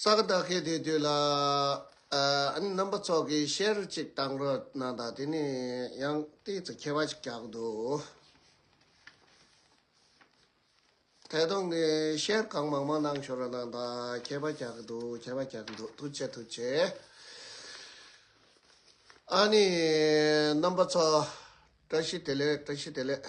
ས་ག་ད་གའི་དེ་དུས་ལ་རྣམ་པ་ཚོགས་ཀྱིས་ཤེར་གཅིག་བཏང་རོགས་གནང་དང་དེ་ནས་ཡང་ཏིག་ཚེ་ཁྱད་པ་ཅིག་བཀྱགས་འདུག་ཐད་གཏོང་གི་ཤེར་གང་མང་མང་གནང་ཞོར་གནང་དང་ཁྱད་པ་བཀྱགས་འདུག་ཁྱད་པ་བཀྱགས་འདུག་ཐུགས་ཆེ་ཐུགས་ཆེ། ཨ་ནི་རྣམ་པ་ཚོགས་བཀྲ་ཤིས་བདེ་ལེགས་བཀྲ་ཤིས་བདེ་ལེགས།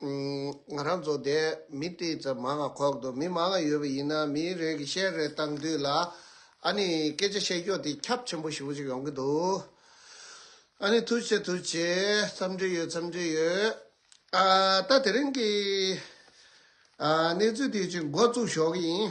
ང་རང་ཚོ་དེ་མི་དེ་ཚོ་མང་ང་ཁོག་འདུག་མི་མང་ང་ཡོད་པ་ཡིན་ན་མི་རེ་གི་བཤད་རེ་བཏང་དུས་ལ་ཨ་ནི་སྐད་ཆ་བཤད་རྒྱོ་དེ་ཁྱབ་ཆེན་པོ་ཞིག་པོ་ཞིག་ཡོང་གི་འདུག་ཨ་ནི་ཐུགས་ཆེ་ཐུགས་ཆེ་འཚམས་འདྲི་ཡོད་འཚམས་འདྲི་ཡོད་ཨ་ད་དེ་རིང་གི་ཨ་གནས་ཚུལ་དེ་ཅིག་འགོ་བཙུགས་ཞོག་གི་ཡིན།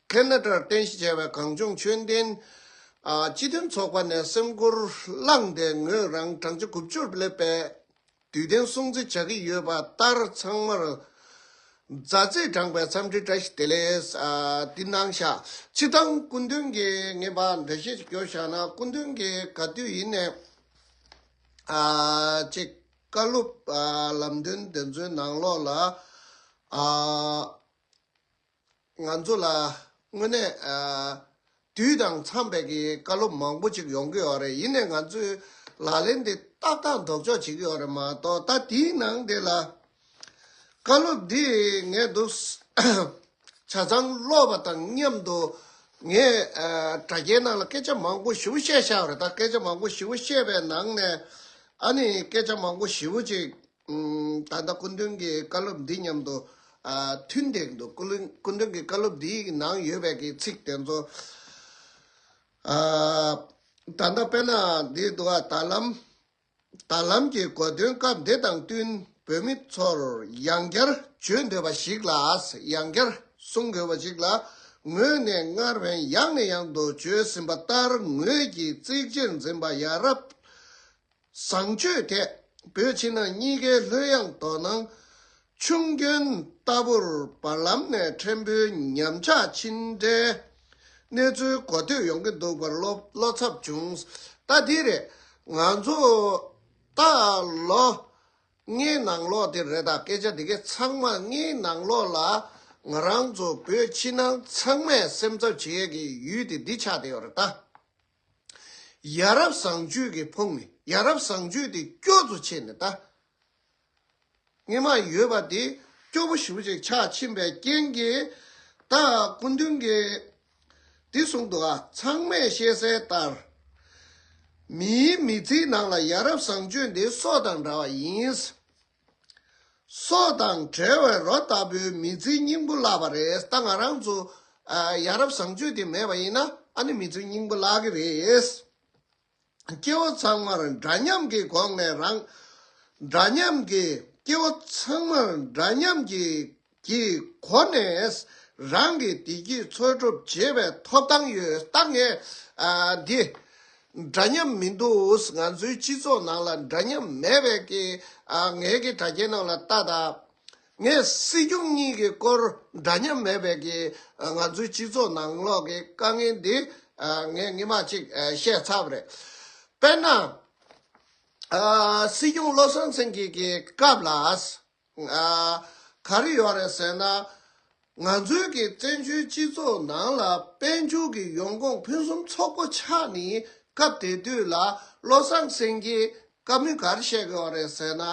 ཁན་ནཱ་ཏར་རྟེན་གཞི་བྱས་པའི་གངས་ལྗོངས་ཆོས་ལྡན་སྤྱི་མཐུན་ཚོགས་པ་ནས་སེམས་ཁུར་བླངས་ཏེ་ངོས་རང་བགྲང་བྱ་དགུ་བཅུར་བསླེབས་པས་དུས་གཏན་སྲུང་བརྩི་བྱ་གི་ཡོད་པ་ལྟར་ཚང་མར་མཛའ་བརྩེས་བགྲངས་པའི་འཚམས་འདྲི་བཀྲ་ཤིས་བདེ་ལེགས། འདི་གནང་བཞག་ཕྱིར་འདང་སྐུ་མདུན་གྱིས་ངེས་པ་འདྲ་བཤད་ཅིག་བསྐྱོར་བཞག་ན་སྐུ་མདུན་གྱིས་ག་དུས་ཡིན་ནས་ཅེས་བཀའ་སློབ་ལམ་སྟོན་འདི་ཚོའི་ནང་ལོགས་ལ། ང་ཚོ་ལ་དངོས་གནས། དུས་དང་འཚམས་པའི་གི་བཀའ་སློབ་མང་པོ་ཅིག་ཡོང་གི་ཡོད་རེད་ཡིན་ནའི་ང་ཚོས་ལག་ལེན་དེ་ཏག་ཏག་འདོགས་ཆོག་བྱེད་ཀྱི་ཡོད་རེད་མ་གཏོགས་ད་དེའི་ནང་དེ་ལ། བཀའ་སློབ་འདི་ངས་འདུག། བྱ་ཚང་ཀློག་པ་དང་མཉམ་དུ། ངས་དྲ་རྒྱའི་ནང་ལ་སྐད་ཆ་མང་པོ་ཞིབ་པོ་བཤད་ཤག་རེད་ད་སྐད་ཆ་མང་པོ་ཞིབ་པོ་བཤད་པའི་ནང་ནས། ཨ་ནི་སྐད་ཆ་མང་པོ་ཞིབ་པོ་ཅིག། ད་ལྟ་སྐུ་མདུན་གྱི་བཀའ་སློབ་འདི་མཉམ་དུ་མཐུན་འདེགས་འདུག་སྐུ་མདུན་གྱི་བཀའ་སློབ་འདིའི་ནང་ཡོད་པའི་གི་ཚིག་དེ་ཚོ། ད་ལྟ་དཔལ་ནཱ་ལེནྡྲའི་དུ་བ་ད་ལམ། ད་ལམ་གྱི་གོ་དོན་སྐབས་འདི་དང་བསྟུན་བོད་མི་ཚོར་ཡང་བསྐྱར་བརྗོད་འདོད་པ་ཞིག་ལ་ཡང་བསྐྱར་གསུང་དགོས་པ་ཅིག་ལ་ངོས་ནས་སྔར་བན་ཡག་ནས་ཡག་དུ་བརྗོད་ཟིན་པ་ལྟར་ངོས་ཀྱིས་གཙིགས་ཆེར་འཛིན་པ་ཡ་རབས་བཟང་སྤྱོད་དད་འབོད་ཕྱི་ནང་གཉིས་ཀའི་ལྷོད་གཡེང་དོ་སྣང། ཆུང་སྐྱོན་ལྟ་བུར་བར་ལམ་ནས་ཕྲན་བུའི་ཉམས་ཆག་ཕྱིན་འབྲས། གནས་ཚུལ་གོ་ཐོས་ཡོང་གི་འདུག་པར་བློ་འཚབ་བྱུང། ལྟ་འདི་རེད། ང་ཚོ་ལྟ་ལོ། ངའི་ནང་ལོག་དེ་རེད་ད་སྐད་ཆ་འདི་གའི་ཚང་མ་ངའི་ནང་ལོག་ལ། ང་རང་ཚོ་བོད་ཕྱི་ནང་ཚང་མས་སེམས་འཚབ་བྱེད་ཡས་ཀྱི་ཡུལ་དེ་འདི་ཆགས་དེ་ཡོད་རེད་ད། ཡ་རབས་བཟང་སྤྱོད་ཀྱི་ཕུང་ནས་ཡ་རབས་བཟང་སྤྱོད་དེ་སྐྱོ་ཚོ་ཆེ་ནས་ད་སྔས་མ་ཡོད་པ་དེ་སྐྱོ་པོ་ཞིག་ཅིག་ཆགས་ཕྱིན་པའི་རྐྱེན་གྱིས་ད་སྐུ་མདུན་གྱིས་འདི་གསུངས་འདུག་ཨ་ཚང་མས་ཤེས་གསལ་ལྟར། མིའི་མི་ཚེའི་ནང་ལ་ཡ་རབས་བཟང་སྤྱོད་འདི་སྲོག་དང་འདྲ་བ་ཡིན། སྲོག་དང་བྲལ་བའི་རོ་ལྟ་བུའི་མི་ཚེའི་སྙིང་པོ་བརླགས་པ་རེད་ད་ང་རང་ཚོ་ཡ་རབས་བཟང་སྤྱོད་དེ་མེད་པ་ཡིན་ན་ཨ་ནི་མི་ཚེའི་སྙིང་པོ་བརླག་གི་རེད། སྐྱེ་བོ་ཚང་མར་འདྲ་མཉམ་གྱི་སྒོ་ནས་རང་འདྲ་མཉམ་གྱི་སྐྱེ་བོ་ཚང་མར་འདྲ་མཉམ་གྱི་ཀྱི་སྒོ་ནས་རང་གི་བདེ་སྐྱིད་འཚོལ་སྒྲུབ་བྱེད་པའི་ཐོབ་ཐང་ཡོད་སྟབས་ངས་འདི་འདྲ་མཉམ་མི་འདུག་ང་ཚོའི་སྤྱི་ཚོགས་ནང་ལ་འདྲ་མཉམ་མེད་པས་ངས་ཀྱི་དྲ་རྒྱའི་ནང་ལ་ལྟ་དང། ངས་སྲིད་སྐྱོང་གཉིས་ཀྱི་སྐོར་འདྲ་མཉམ་མེད་པས་ཀྱི་ང་ཚོའི་སྤྱི་ཚོགས་ནང་ལོག་གི་དཀའ་ངལ་འདི་ངས་སྔི་མ་གཅིག་བཤད་ཚར་བ་རེད། དཔེར་ན། སྲིད་སྐྱོང་བློ་བཟང་སེང་གེ་ཀྱི་སྐབས་ལ། ང་གར་ཡོད་རེད་ཟེར་ན། ང་ཚོའི་གི་བཙན་བྱོལ་སྤྱི་ཚོགས་ནང་ལ་དཔལ་འབྱོར་གི་ཡོང་ཁུངས་ཕུན་སུམ་ཚོགས་པོ་ཆགས་ནི་སྐབས་དེ་དུས་ལ་བློ་བཟང་སེང་གེ་ཀ་མི་གར་གཤེགས་ཡོད་རེད་ཟེར་ན།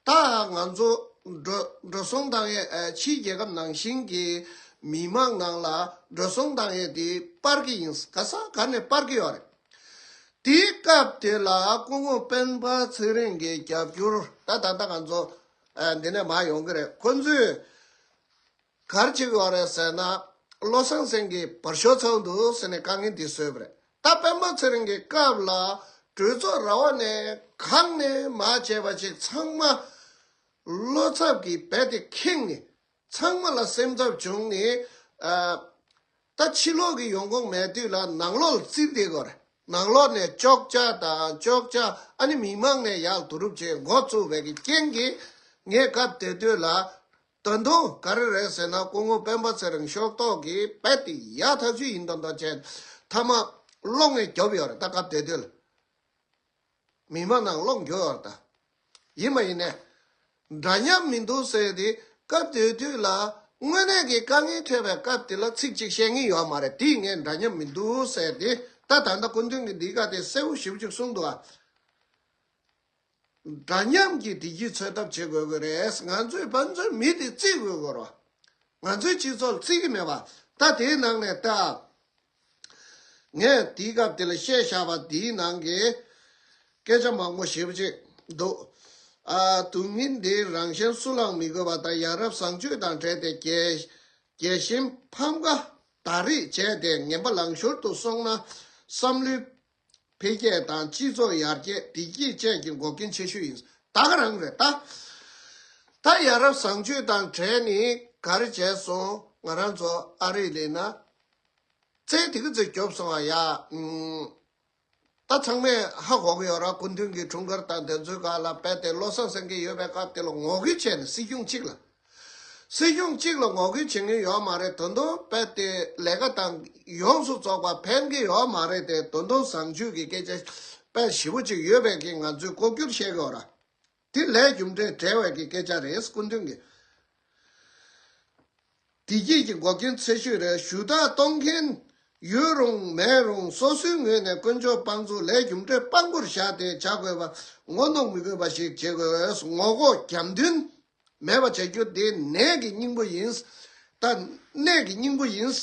ད་ང་ཚོ་འགྲོ་འགྲོ་སོང་དང་ཡས་ཕྱིའི་རྒྱལ་ཁབ་ནང་བཞིན་གི་མི་མང་ནང་ལ་འགྲོ་སོང་དང་ཡས་དེ་སྤར་གི་ཡིན་ག་ས་ག་ནས་སྤར་གི་ཡོད་རེད། དེའི་སྐབས་དེ་ལ་སྐུ་ངོ་སྤེན་པ་ཚེ་རིང་གི་རྒྱབ་སྐྱོར། ད་ད་ལྟ་ག་ཚོད་འདི་ནས་མར་ཡོང་གི་རེད་ཁོ་ཚོས་གར་བྱེད་ཡོད་རེད་ཟེར་ན། བློ་བཟང་སེང་གེ་བར་ཤོག་ཚོགས་འདུག་ཟེར་ནས་དཀའ་ངལ་འདི་བཟོས་པ་རེད་ད་སྤེན་པ་ཚེ་རིང་གི་སྐབས་ལ་གྲོས་ཚོགས་ར་བ་ནས་གང་ནས་མར་བྱས་པ་ཅིག་ཚང་མ་བློ་འཚབ་ཀྱིས་རྦད་དེ་ཁེངས་ནས་ཚང་མ་ལ་སེམས་འཚབ་བྱུང་ནས། ད་ཕྱི་ལོག་གི་ཡོང་ཁུངས་མེད་དུས་ལ་ནང་ལོག་ལ་བརྩིས་བསྡད་དགོས་རེད། ནང་ལོག་ནས་ཅོག་ཅག་དང་ཅོག་ཅག་ཨ་ནི་མི་མང་ནས་ཡག་བསྡུ་རུབ་བྱེད་མགོ་བཙུགས་པའི་གི་རྐྱེན་གྱིས། ངས་སྐབས་དེ་དུས་ལ། ད་དུང་ག་རེ་རེད་ཟེར་ན་སྐུ་ངོ་སྤེན་པ་ཚེ་རིང་ཤོག་ཐོག་གིས་རྦད་དེ་ཡག་ཐག་ཆོད་ཡིན་མདོག་མདོག་བྱས། མཐའ་མ། གློག་བརྙན་རྒྱོབ་ཡོད་རེད་ད་སྐབས་དེ་དུས་ལ། མི་མང་ནང་ལོག་འགྱོད་བར་དང། ཡིན་མ་ཡིན་ནས། འདྲ་མཉམ་མི་འདུག་ཟེར་དེ་སྐབས་དེ་དུས་ལ། དངོས་གནས་ཀྱི་དཀའ་ངལ་འཕྲད་པའི་སྐབས་དེ་ལ་ཚིག་གཅིག་བཤད་ངེས་ཡོད་མ་རེད་དེ་ངས་འདྲ་མཉམ་མི་འདུག་ཟེར་དེ་ད་ད་ལྟ་སྐུ་མདུན་གྱི་འདིའི་བཀའ་དེ་གསལ་བོ་ཞིབ་ཅིག་གསུངས་འདུག་ཨ། འདྲ་མཉམ་གྱི་བདེ་སྐྱིད་འཚོལ་ཐབས་བྱེད་དགོས་ཀྱི་རེད་ང་ཚོས་དཔའ་མཛོད་མི་དེ་བརྩི་དགོས་སྐོར་བ། ང་ཚོའི་སྤྱི་ཚོགས་ལ་བརྩི་གི་མེད་པ་ད་དེའི་ནང་ནས་ལྟ་ཨ། ངས་དེའི་སྐབས་དེ་ལ་བཤད་བཞག་པ་འདིའི་ནང་གི་སྐད་ཆ་མང་པོ་ཞིབ་ཅིག་འདུག་ཨ། དུག་རྙིང་འདི་རང་གཞན་སུ་ལའང་མི་དགོས་པ་དང་ཡ་རབས་བཟང་སྤྱོད་དང་བྲལ་ཏེ་རྒྱལ། གཞན་ཕམ་ཁ་དག་རིགས་བྱས་ཏེ་ངན་པ་ལང་ཤོར་དུ་སོང་ན་བསམ་བློའི་འཕེལ་རྒྱས་དང་སྤྱི་ཚོགས་ཡར་རྒྱས་བདེ་སྐྱིད་བཅས་ཀྱི་འགོག་རྐྱེན་ཆེ་ཤོས་ཡིན། ད་ག་རང་རེད་ད། ད་ཡ་རབས་བཟང་སྤྱོད་དང་བྲལ་ནས་ག་རེ་བྱས་སོང་ང་རང་ཚོ་ཨ་རིར་སླེབས་ན། རྩེད་དེ་གི་ཚོད་སྐྱོབ་སོང་བ་ཡ། ད་ཚང་མས་ཧ་གོ་གི་ཡོད་ར་སྐུ་མདུན་གྱི་འཁྲུངས་སྐར་དང་བདེན་རྫུན་ག་ལ་དཔལ་ལྡན་བློ་བཟང་སེང་གེ་ཡོད་པའི་སྐབས་དེ་ལ་ངོ་རྒོལ་བྱས་ནས་སྲིད་སྐྱོང་གཅིག་ལ་སྲིད་གཞུང་གཅིག་ལ་ངོ་རྒོལ་བྱེད་མཁན་ཡོད་མ་རེད་དོན་དུ་རྦད་དེ་ལས་ཀ་དང་ཡོངས་སུ་རྫོགས་པ་ཕན་གི་ཡོད་མ་རེད་དེ་དོན་དུ་བཟང་སྤྱོད་ཀྱི་སྐད་ཆ་རྦད་ཞིབ་པོ་ཅིག་ཡོད་པའི་གིས་ང་ཚོས་ལྐོག་གྱུར་བཤད་གི་འོ་ར་དེ་ལས་རྒྱུ་འབྲས་བྲལ་བའི་གི་སྐད་ཆ་རེད་སྐུ་མདུན་གྱི་བདེ་སྐྱིད་ཀྱི་འགོག་རྐྱེན་ཚད་ཤོས་རེད་ཞུ་དག་གཏོང་མཁན་ཡོད་རུང་མེད་རུང་སོ་སོའི་ངོས་ནས་དཀོན་མཆོག་དཔང་བཙུགས་ལས་རྒྱུ་འབྲས་དཔང་པོར་བཞག་སྟེ་བྱ་དགོས་པ་ངོ་གནོང་མི་དགོས་པ་ཞིག་བྱེད་དགོས་ངོ་ལྐོག་རྒྱབ་མདུན། མེད་པར་བྱ་རྒྱུ་དེ་ནད་ཀྱི་སྙིང་པོ་ཡིན། ད་ནད་ཀྱི་སྙིང་པོ་ཡིན།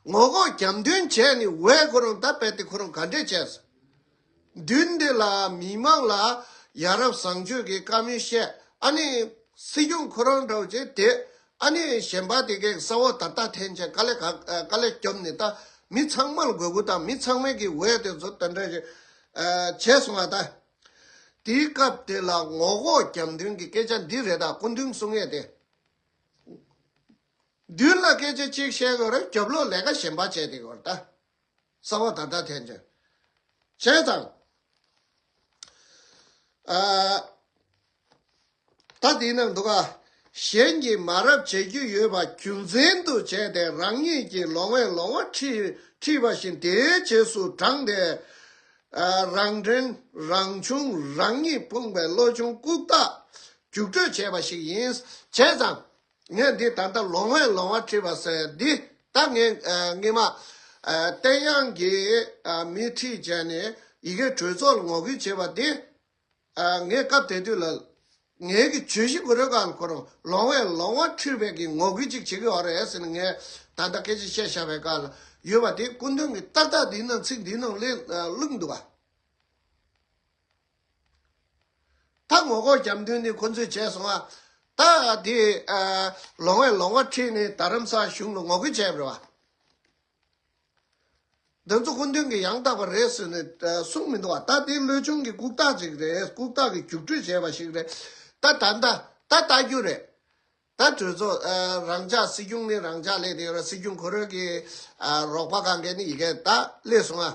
ངོ་ལྐོག་རྒྱབ་མདུན་བྱས་ནས་འོས་ཁོ་རང་ད་རྦད་དེ་ཁོ་རང་ག་འདྲས་བྱས། མདུན་འདི་ལ་མི་མང་ལ་ཡ་རབས་བཟང་སྤྱོད་ཀྱི་བཀའ་མོལ་བཤད་ཨ་ནི། སྲིད་སྐྱོང་ཁོ་རང་འདྲ་བ་བྱས་དེ་ཨ་ནི་གཞན་པ་དེ་གའི་ས་འོག་ད་ལྟ་ཐན་ཆད་དཀའ་ལས་ག་དཀའ་ལས་སྐྱོབ་ནས་ད་མི་ཚང་མ་ལ་དགོས་མཁོ་དང་མི་ཚང་མའི་གི་འོས་དེ་ཚོ་ད་འདྲ་བྱས་སོང་ཨ་ད། དེའི་སྐབས་དེ་ལ་ངོ་ལྐོག་རྒྱབ་མདུན་གྱི་སྐད་ཆ་འདི་རེ་དྲག་སྐུ་མདུན་གསུང་ངེས་ཏེ། མདུན་ལ་སྐད་ཆ་གཅིག་བཤད་དགོས་རུང་རྒྱབ་ལོག་ལས་ཀ་གཞན་པ་བྱས་ཏེ་དགོས་ར་ད་ས་བ་ད་ད་ཐན་ཅོན་བྱས་ཙང། ད་དེའི་ནང་དུ་ཁག་གཞན་གྱིས་མ་རབས་བྱེད་རྒྱུ་ཡོད་པ་རྒྱུ་མཚན་དུ་བྱས་ཏེ་རང་ཉིད་ཀྱི་ལོང་བས་ལོང་བ་ཁྲིད་པ་བཞིན་དེའི་རྗེས་སུ་འབྲངས་ཏེ། རང་དྲན་རང་བྱུང་རང་ཉིད་ཕོངས་པའི་བློ་ཆུང་ལྐུགས་རྟགས་རྒྱུགས་སྤྲོད་བྱས་པ་ཞིག་ཡིན། བྱས་ཙང་ངས་འདི་ད་ལྟ་ལོང་བས་ལོང་བ་ཁྲིད་པ་ཟེར་འདི་ད་ངས་ངེད་མ་བསྟན་དབྱངས་ཀྱིས་མི་ཁྲིད་བྱས་ནས་ཡི་གེ་གྲོས་ཚོགས་ལ་ངོ་རྒོལ་བྱས་པ་འདི། ངས་སྐབས་དེ་དུས་ལ། ངའི་གི་གྱོད་གཞི་གུ་རུའི་བཀའ་ལ་འཁོར། ལོང་བས་ལོང་བ་ཁྲིར་བས་ཀྱི་ངོ་རྒོལ་ཅིག་བྱེད་གི་ཨོ་རེད་ཟེར་ནས་ངས་ད་ལྟ་སྐད་ཆ་བཤད་བཞག་པའི་བཀའ་ལ་ཡོད་པ་དེ་སྐུ་མདུན་གྱི་ཏག་ཏག་འདིའི་ནང་ཚིག་འདིའི་ནང་བླུགས་འདུག་བ། ད་ངོ་ལྐོག་རྒྱབ་མདུན་ནས་ཁོང་ཚོས་བྱས་སོང་བ། ད་དེ། ལོང་བས་ལོང་བ་ཁྲིར་ནས་ད་རམ་ས་གཞུང་ལ་ངོ་རྒོལ་བྱས་པར་བ། འདི་ཚོ་སྐུ་མདུན་གྱིས་ཡང་དག་པ་རེད་ཟེར་ནས་གསུངས་མི་འདུག་ཨ་ད་དེ་བློས་ཆུང་གི་ལྐུགས་རྟགས་ཅིག་རེད་ལྐུགས་རྟགས་ཀྱི་རྒྱུགས་སྤྲོད་བྱས་པ་ཞིག་རེད་ད་ད་ད་ད་ལྟ་རྒྱུ་རེད་ད་གྲོས་ཚོགས་རང་འཇགས་སྲིད་སྐྱོང་ནི་རང་འཇགས་ལས་དེ་ཡོད་ར་སྲིད་སྐྱོང་གོ་རོལ་གྱི་རོགས་པ་གང་གལ་ནི་ཡི་གེ་ད་སླེབས་སོང་ཨ།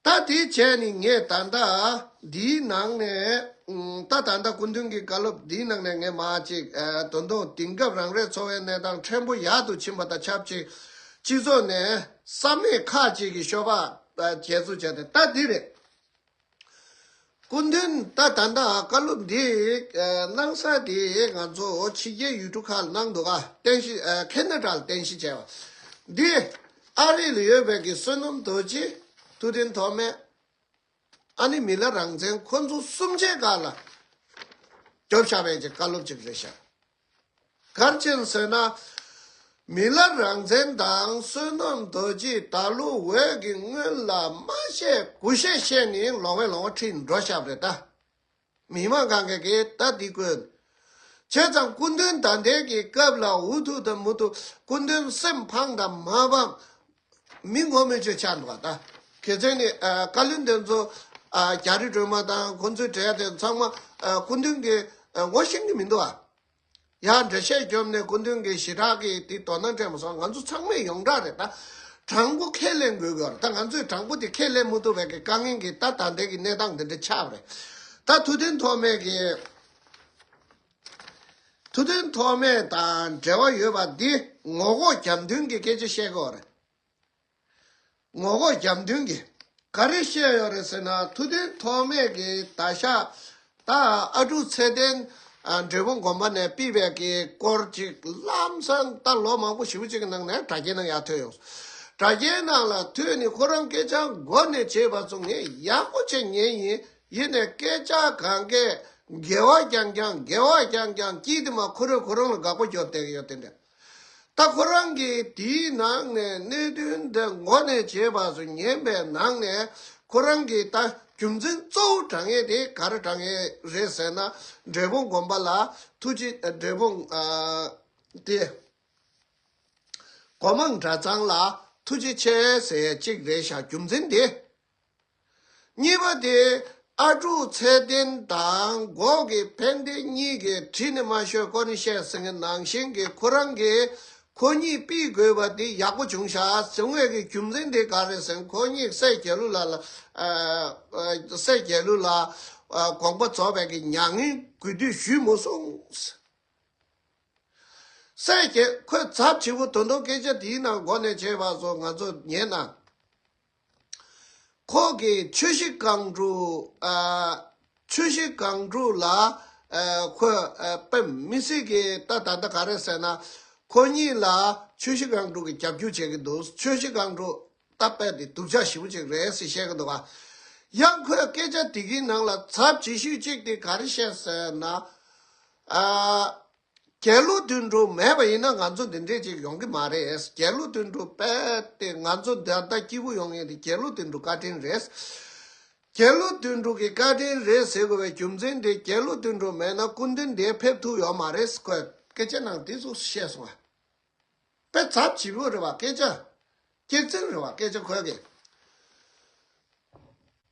ད་དེ་བྱས་ནས་ངས་ད་ལྟ་འདིའི་ནང་ནས་ད་ད་ལྟ་སྐུ་མདུན་གྱི་བཀའ་སློབ་འདིའི་ནང་ནས་ངས་མ་ཅིག་དོན་དུ་དེང་སྐབས་རང་རེའི་འཚོ་བའི་གནས་སྟངས་ཕྲན་བུ་ཡག་ཏུ་ཕྱིན་པ་དང་ཆབས་ཅིག་སྤྱི་ཚོགས་ནས་བསམ་མེད་ཁག་ཅིག་གིས་ཤོ་བག་བྱས་ཚུལ་བྱས་ཏེ་ད་འདི་རེད། སྐུ་མདུན་ད་ད་ད་བཀའ་སློབ་འདི་གནང་ས་དེ་ང་ཚོ་ཕྱི་རྒྱལ་ཡུལ་གྲུ་ཁག་ལ་གནང་འདུག Canada ལ་རྟེན་གཞི་བྱས་པ། འདི་ཨ་རི་ལ་ཡོད་པའི་གི་བསོད་ནམས་རྡོ་རྗེ་ཐུབ་བསྟན་ཐོགས་མེད་ཨ་ནི་མི་ལ་རང་བཙན་ཁོ་ཚོ་གསུམ་ཆའི་བཀའ་ལ་རྒྱོབ་ཤག་བས་ཀྱི་བཀའ་སློབ་ཅིག་རེད་ཤག་གར་ཆེན་བསོད་ནམས་མི་ལ་རང་བཙན་དང་བསོད་ནམས་རྡོ་རྗེས་ད་ལོ་འོད་ཀྱི་སྔོན་ལ་སྨྲ་ཤེས་གུ་ཤེས་བཤད་ནི་ལོང་བས་ལོང་བ་ཁྲིད་འགྲོ་ཞབས་རེད་ད། མི་མང་གང་གེ་གེ་ད་འདི་ཀོན། བྱས་ཙང་སྐུ་མདུན་ད་འདས་ཀྱི་སྐབས་ལ་འུ་ཐུག་ད་མུ་ཐུག་སྐུ་མདུན་སེམས་ཕངས་ད་མ་ཕངས། མི་ངོ་མི་ཆོད་ཆགས་འདུག་ད་གེ་ཚོས་ནི་བཀའ་བློན་དེ་ཚོ་རྒྱ་རི་སྒྲོལ་མ་དང་ཁོང་ཚོའི་གྲས་དེ་ཚང་མ་སྐུ་མདུན་གྱི་ངོ་ཤེས་ཀྱི་མི་འདུག་ཨ། ཡང་འདྲེ་ཤད་གྱོབ་ནས་སྐུ་མདུན་གྱི་ཞི་དྲག་གིས་དེ་དོ་སྣང་སྤྲད་མ་སོང་ང་ཚོ་ཚང་མས་ཡོངས་གྲགས་རེད་ད། དྲང་པོ་ཁས་ལེན་དགོས་ཀྱི་ཨོ་ད་ང་ཚོས་དྲང་པོ་དེ་ཁས་ལེན་མི་ཐུབ་བས་ཀྱི་དཀའ་ངལ་གྱིས་ད་ད་ལྟའི་གྱི་གནས་སྟངས་འདི་འདྲ་ཆགས་པ་རེད། ད་ཐུགས་འཐེན་ཐོག་མེད་ཀྱི། ཐུགས་འདུན་ཐོགས་མེད་དང་འབྲེལ་བ་ཡོད་པ་འདི་ངོ་ལྐོག་རྒྱབ་མདུན་གྱི་སྐད་ཆ་བཤད་སྐོར་རེད། ངོ་ལྐོག་རྒྱབ་མདུན་གྱི་ག་རེ་བཤད་ཡོད་རེད་ཟེར་ན་ཐུགས་འདུན་ཐོགས་མེད་ཀྱི་ད་ཤ་ད་ཨ་དྲུག་ཚེ་བརྟན་འབྲས་བུ་དགོན་པ་ནས་སྤིད་པའི་གི་སྐོར་ཅིག་ལམ་སང་ད་ལོ་མང་པོ་བཞི་བོ་ཅིག་གི་ནང་ནས་དྲ་རྒྱའི་ནང་ཡག་ཐོན་ཡོང་སོང། དྲ་རྒྱའི་ནང་ལ་ཐོན་ནི་ཁོ་རང་སྐད་ཆ་མགོ་ནས་བྱེད་པ་ཚོ་ངས་ཡག་པོ་ཆེ་ཉན་ཡིན། ཡེ་ནས་སྐད་ཆ་གང་གས་འགལ་བ་རྐྱང་རྐྱང་འགལ་བ་རྐྱང་རྐྱང་སྐྱིད་དེ་མ་ཁོ་རོས་ཁོ་རང་ལ་དགག་པ་རྒྱོབ་བསྡད་ཀྱི་ཡོད་དེ་འདྲ། ད་ཁོ་རང་གིས་དེའི་ནང་ནས་གནད་དོན་འདི་མགོ་ནས་བྱེད་པ་སུ་ཉན་པའི་ནང་ནས་ཁོ་རང་གིས་ད་རྒྱུ་མཚན་གཙོ་བོ་དྲང་ངེས་དེ་ག་རེ་དྲང་ངེས་རེད་ཟེར་ན་འབྲས་བུ་སྒོམ་པ་ལ་ཐུགས་རྗེ་འབྲས་བུ་དེ་གོ་མང་འདྲ་ཚང་ལ་ཐུགས་རྗེ་ཆེ་ཟེར་ཡས་གཅིག་རེད་ཤག་རྒྱུ་མཚན་དེ། གཉིས་པ་དེ་ཨ་ཀྲུག་ཚད་ལྡན་དང་འགོག་གི་ཕན་བདེ་གཉིས་ཀའི་བྲིས་ནི་མ་ཤོད་ཀོ་ནི་བཤད་ཟིན་གི་ནང་བཞིན་གི་ཁོ་རང་གི་ཁོ་གཉིས་པིས་དགོས་པ་དེ་ཡག་པོ་བྱུང་ཤག་ཟིན་དངོས་གི་རྒྱུ་མཚན་དེ་ག་རེད་ཟིན་ཁོ་གཉིས་སེ་རྒྱལ་ལུ་ལ་ལ་སེ་རྒྱལ་ལུ་ལ་དགོངས་པ་རྫོགས་པའི་གི་མྱ་ངན་གུས་འདུད་ཞུས་མོ་སོང་སེ་རྒྱལ་ཁོས་ཚབ་ཆེ་པོ་དོན་དོ་སྐད་ཆ་དེའི་ནང་འགོ་ནས་བྱས་པ་སོ་ང་ཚོ་ཉན་ན། ཁོང་གིས་མཆོད་གཞི་སྒང་དྲུག་ལ་འཁོད་པའི་མི་སེར་གྱི་ལྟ་ད་ལྟ་ག་རེ་ཟེར་ན། ཁོ་གཉིས་ལ་མཆོད་གཞི་སྒང་དྲུག་གི་རྒྱབ་སྐྱོར་བྱེད་ཀྱི་འདུག་མཆོད་གཞི་སྒང་དྲུག་ལྟ་དཔེ་འདི་སྡུག་ཅག་ཞིམ་པོ་ཅིག་རེད་ཟེར་བཤད་ཀྱི་འདུག་ག་ཡང་ཁོས་སྐད་ཆ་དེ་གའི་ནང་ལ་ཚབ་བྱེད་ཤུལ་ཅིག་དེ་ག་རེ་བཤད་ཟེར་ན། རྒྱལ་གླུ་བསྡུ་འགྲོ་མེད་པ་ཡིན་ན་ང་ཚོ་འདི་འདྲས་ཅིག་ཡོང་གི་མ་རེད། རྒྱལ་གླུ་བསྡུ་འགྲོ་བས་ཏེ་ང་ཚོ་ད་ལྟ་སྐྱིད་པོ་ཡོང་ངེས་ཏེ་རྒྱལ་གླུ་བསྡུ་འགྲོ་བཀའ་དྲིན་རེད། རྒྱལ་གླུ་བསྡུ་འགྲོ་གི་བཀའ་དྲིན་རེད་ཟེར་དགོས་པའི་རྒྱུ་མཚན་དེ་རྒྱལ་གླུ་བསྡུ་འགྲོ་མེད་ན་སྐུ་མདུན་འདས་ཕེབས་ཐུབ་ཡོད་མ་རེད་ཟེར་དགོས། སྐད་ཆ་ནང་དེ་ཚོ་བཤད་སོང་བས། དཔེ་ཚབ་བྱེད་པོ་རེད་བ་སྐད་ཆ། སྐྱེད་ཚིག་རེད་བ་སྐད་ཆ་འཁོད་གི།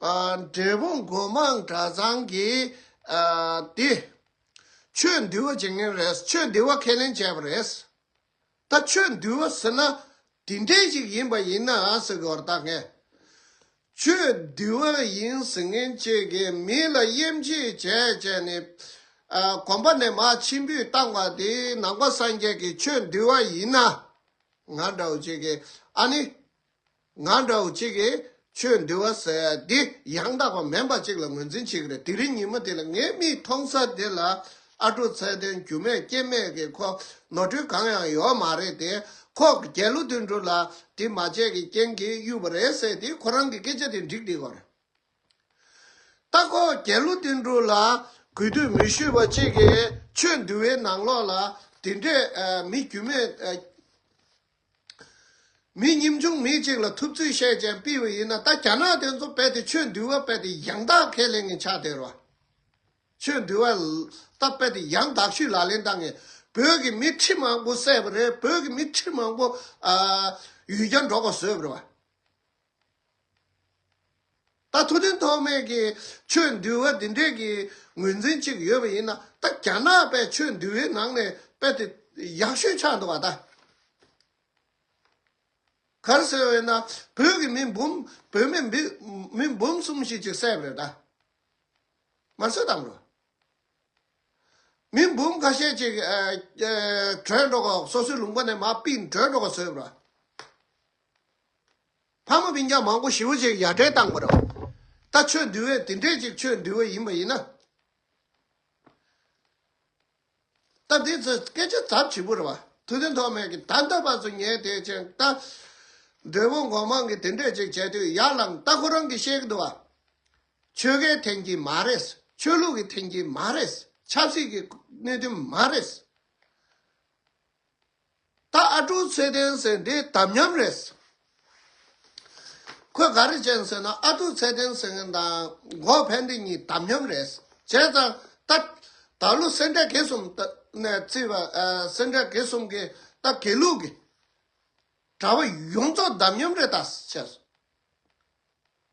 འབྲས་སྤུངས་སྒོ་མང་གྲྭ་ཚང་གིས་དེ། ཆོས་འདུལ་བ་བྱེད་མཁན་རེད་ཆོས་འདུལ་བ་ཁས་ལེན་བྱས་པ་རེད། ད་ཆོས་འདུལ་བ་ཟེར་ན་དེ་འདྲས་ཞིག་ཡིན་པ་ཡིན་ན་ཟེར་གི་བར་བརྟག་མཁན། ཆོས་འདུལ་བ་ཡིན་ཟེར་མཁན་བཅས་ཀྱིས་མི་ལ་དབྱེ་འབྱེད་བྱས་བྱས་ནས། གོམ་པ་ནས་མ་ཆེན་པོས་བཏང་བ་དེ་ནང་པ་སངས་རྒྱས་ཀྱི་ཆོས་འདུལ་བ་ཡིན་ན། ང་འདྲ་བོ་བཅས་ཀྱིས་ཨ་ནི། ང་འདྲ་བོ་གཅིག་གིས་ཆོས་འདི་བ་ཟེར་དེ་ཡང་དག་པ་མེད་པ་གཅིག་ལ་ངོས་འཛིན་བྱེད་ཀྱི་རེད་དེ་རིང་ཉིན་མོ་དེ་ལ་ངའི་མིག་མཐོང་ས་དེ་ལ་ཨ་ཕྲུག་ཚད་ལྡན་རྒྱུ་མེད་རྐྱེན་མེད་ཀྱི་ཁོག་ནོར་འཁྲུལ་གང་ཡང་ཡོད་མ་རེད་དེ་ཁོག་གི་རྒྱལ་ལོ་དུད་འགྲོ་ལ་དྲི་མ་ཆད་ཀྱི་རྐྱེན་གྱིས་གཡུགས་པ་རེད་ཟེར་དེ་ཁོ་རང་གི་སྐད་ཆ་དེ་འགྲིག་འགྲིག་གོ་རེད་ད་ཁོག་རྒྱལ་ལོ་དུད་འགྲོ་ལ་གུས་འདུད་མི་ཞུས་པ་གཅིག་གིས་ཆོས་འདི་བའི་ནང་ལོགས་ལ་དེ་འདྲས་མི་རྒྱུ་མེད། མི་ཉིམ་ཆུང་མི་གཅིག་ལ་ཐུབ་ཚོད་བཤད་ཅན་སྤི་བོ་ཡིན་ན་ད་རྒྱ་ནག་དེ་ཚོ་བལ་དེ་ཆོས་འདུལ་བ་བལ་དེ་ཡང་དག་ཁས་ལེན་ངན་ཆགས་དེ་རོ། ཆོས་འདུལ་བ་ད་བལ་དེ་ཡང་དག་ཤུས་ལག་ལེན་ད་ངན་བོད་ཀྱི་མི་ཁྲི་མང་པོ་བསད་པ་རེད་བོད་ཀྱི་མི་ཁྲི་མང་པོ་ཡུལ་གྱར་འགྲོ་དགོས་བཟོས་པ་རེད་བ། ད་ཐུགས་འདུན་ཐོགས་མེད་ཀྱིས་ཆོས་འདུལ་བ་འདི་འདྲས་ཀྱི་ངོས་འཛིན་གཅིག་ཡོད་པ་ཡིན་ན་ད་རྒྱ་ནག་པས་ཆོས་འདུལ་བའི་ནང་ནས་དཔེ་དེ་ཡག་ཤོས་ཆགས་འདུག་བ་ད། གར་ཟེར་བས་ན་བོད་ཀྱི་མི་འབུམ་བོད་མི་མི་འབུམ་གསུམ་ཞིག་ཅིག་བསད་པ་རེད་ད། མར་གསོད་བཏང་འགྲོ། མི་འབུམ་ཁ་ཤས་ཅིག་བྲོས་འགྲོ་གོ་སོ་སོའི་ལུང་པ་ནས་མ་པིན་བྲོས་འགྲོ་གོ་ཟོས་པ་ར། ཕག་མོ་མི་འགྱང་མང་པོ་ཞི་བ་ཅིག་ཡར་འདྲེན་བཏང་པ་རོ། ད་ཆོས་འདུལ་བས་དེ་འདྲས་ཅིག་ཆོས་འདུལ་བ་ཡིན་པ་ཡིན་ན། ད་འདི་ཚོས་སྐད་ཆ་ཚབ་བྱེད་པོ་རེད་བ། ཐུགས་རྟེན་ཐོག་མེད་ཀྱི་ད་ལྟ་བར་དུ་ཉན་དེ་ཅན་ལྟ། མགྲོན་པོ་མགོ་མང་གིས་དེ་འདྲས་ཅིག་བྱས་དུས་ཡར་ལངས་ལྟ་ཁོ་རང་གིས་ཤེས་ཀྱི་འདུག་བ། ཆོལ་ཁའི་འཐེན་གྱིས་མ་རེད། ཆོས་ལུགས་ཀྱི་འཐེན་གྱིས་མ་རེད། ཆབ་སྲིད་ཀྱི་གནོད་དོན་མ་རེད། ད་ཨ་ཀྲུག་ཚེ་བརྟན་ཟེར་འདི་དམ་ཉམས་རེད། ཁོས་ག་རེ་བྱས་ཟེར་ན་ཨ་ཀྲུག་ཚེ་བརྟན་ཟེར་མཁན་དང་འགོག་ཕན་བདེ་གཉིས་དམ་ཉམས་རེད། བྱས་ཙང་ད་ད་ལོ་སེར་འབྲས་དགེ་གསུམ་ནས་བརྩིས་པ་སེར་འབྲས་དགེ་གསུམ་གྱི་ད་དགེ་ལུགས་ཀྱི་གྲྭ་པ་ཡོངས་རྫོགས་དམ་ཉམས་རེད་ད་བྱས།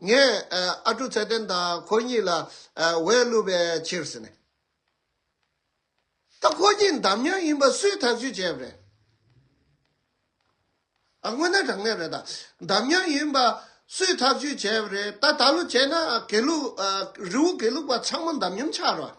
ངས་ཨ་ཀྲུག་ཚེ་བརྟན་དང་ཁོ་གཉིས་ལ་འོས་བླུགས་པའི་ཕྱིར་ཟེར་ནས། ད་ཁོ་གཉིས་འདམ་ཉག་ཡིན་པ་སུས་ཐག་གཅོད་བྱས་པ་རེད། དངོས་གནས་དྲང་གནས་རེད་ད། འདམ་ཉག་ཡིན་པ་སུས་ཐག་གཅོད་བྱས་པ་རེད། ད་ད་ལོ་བྱས་ན་དགེ་ལུགས་རི་བོ་དགེ་ལུགས་པ་ཚང་མ་འདམ་ཉམས་ཆགས་རོགས།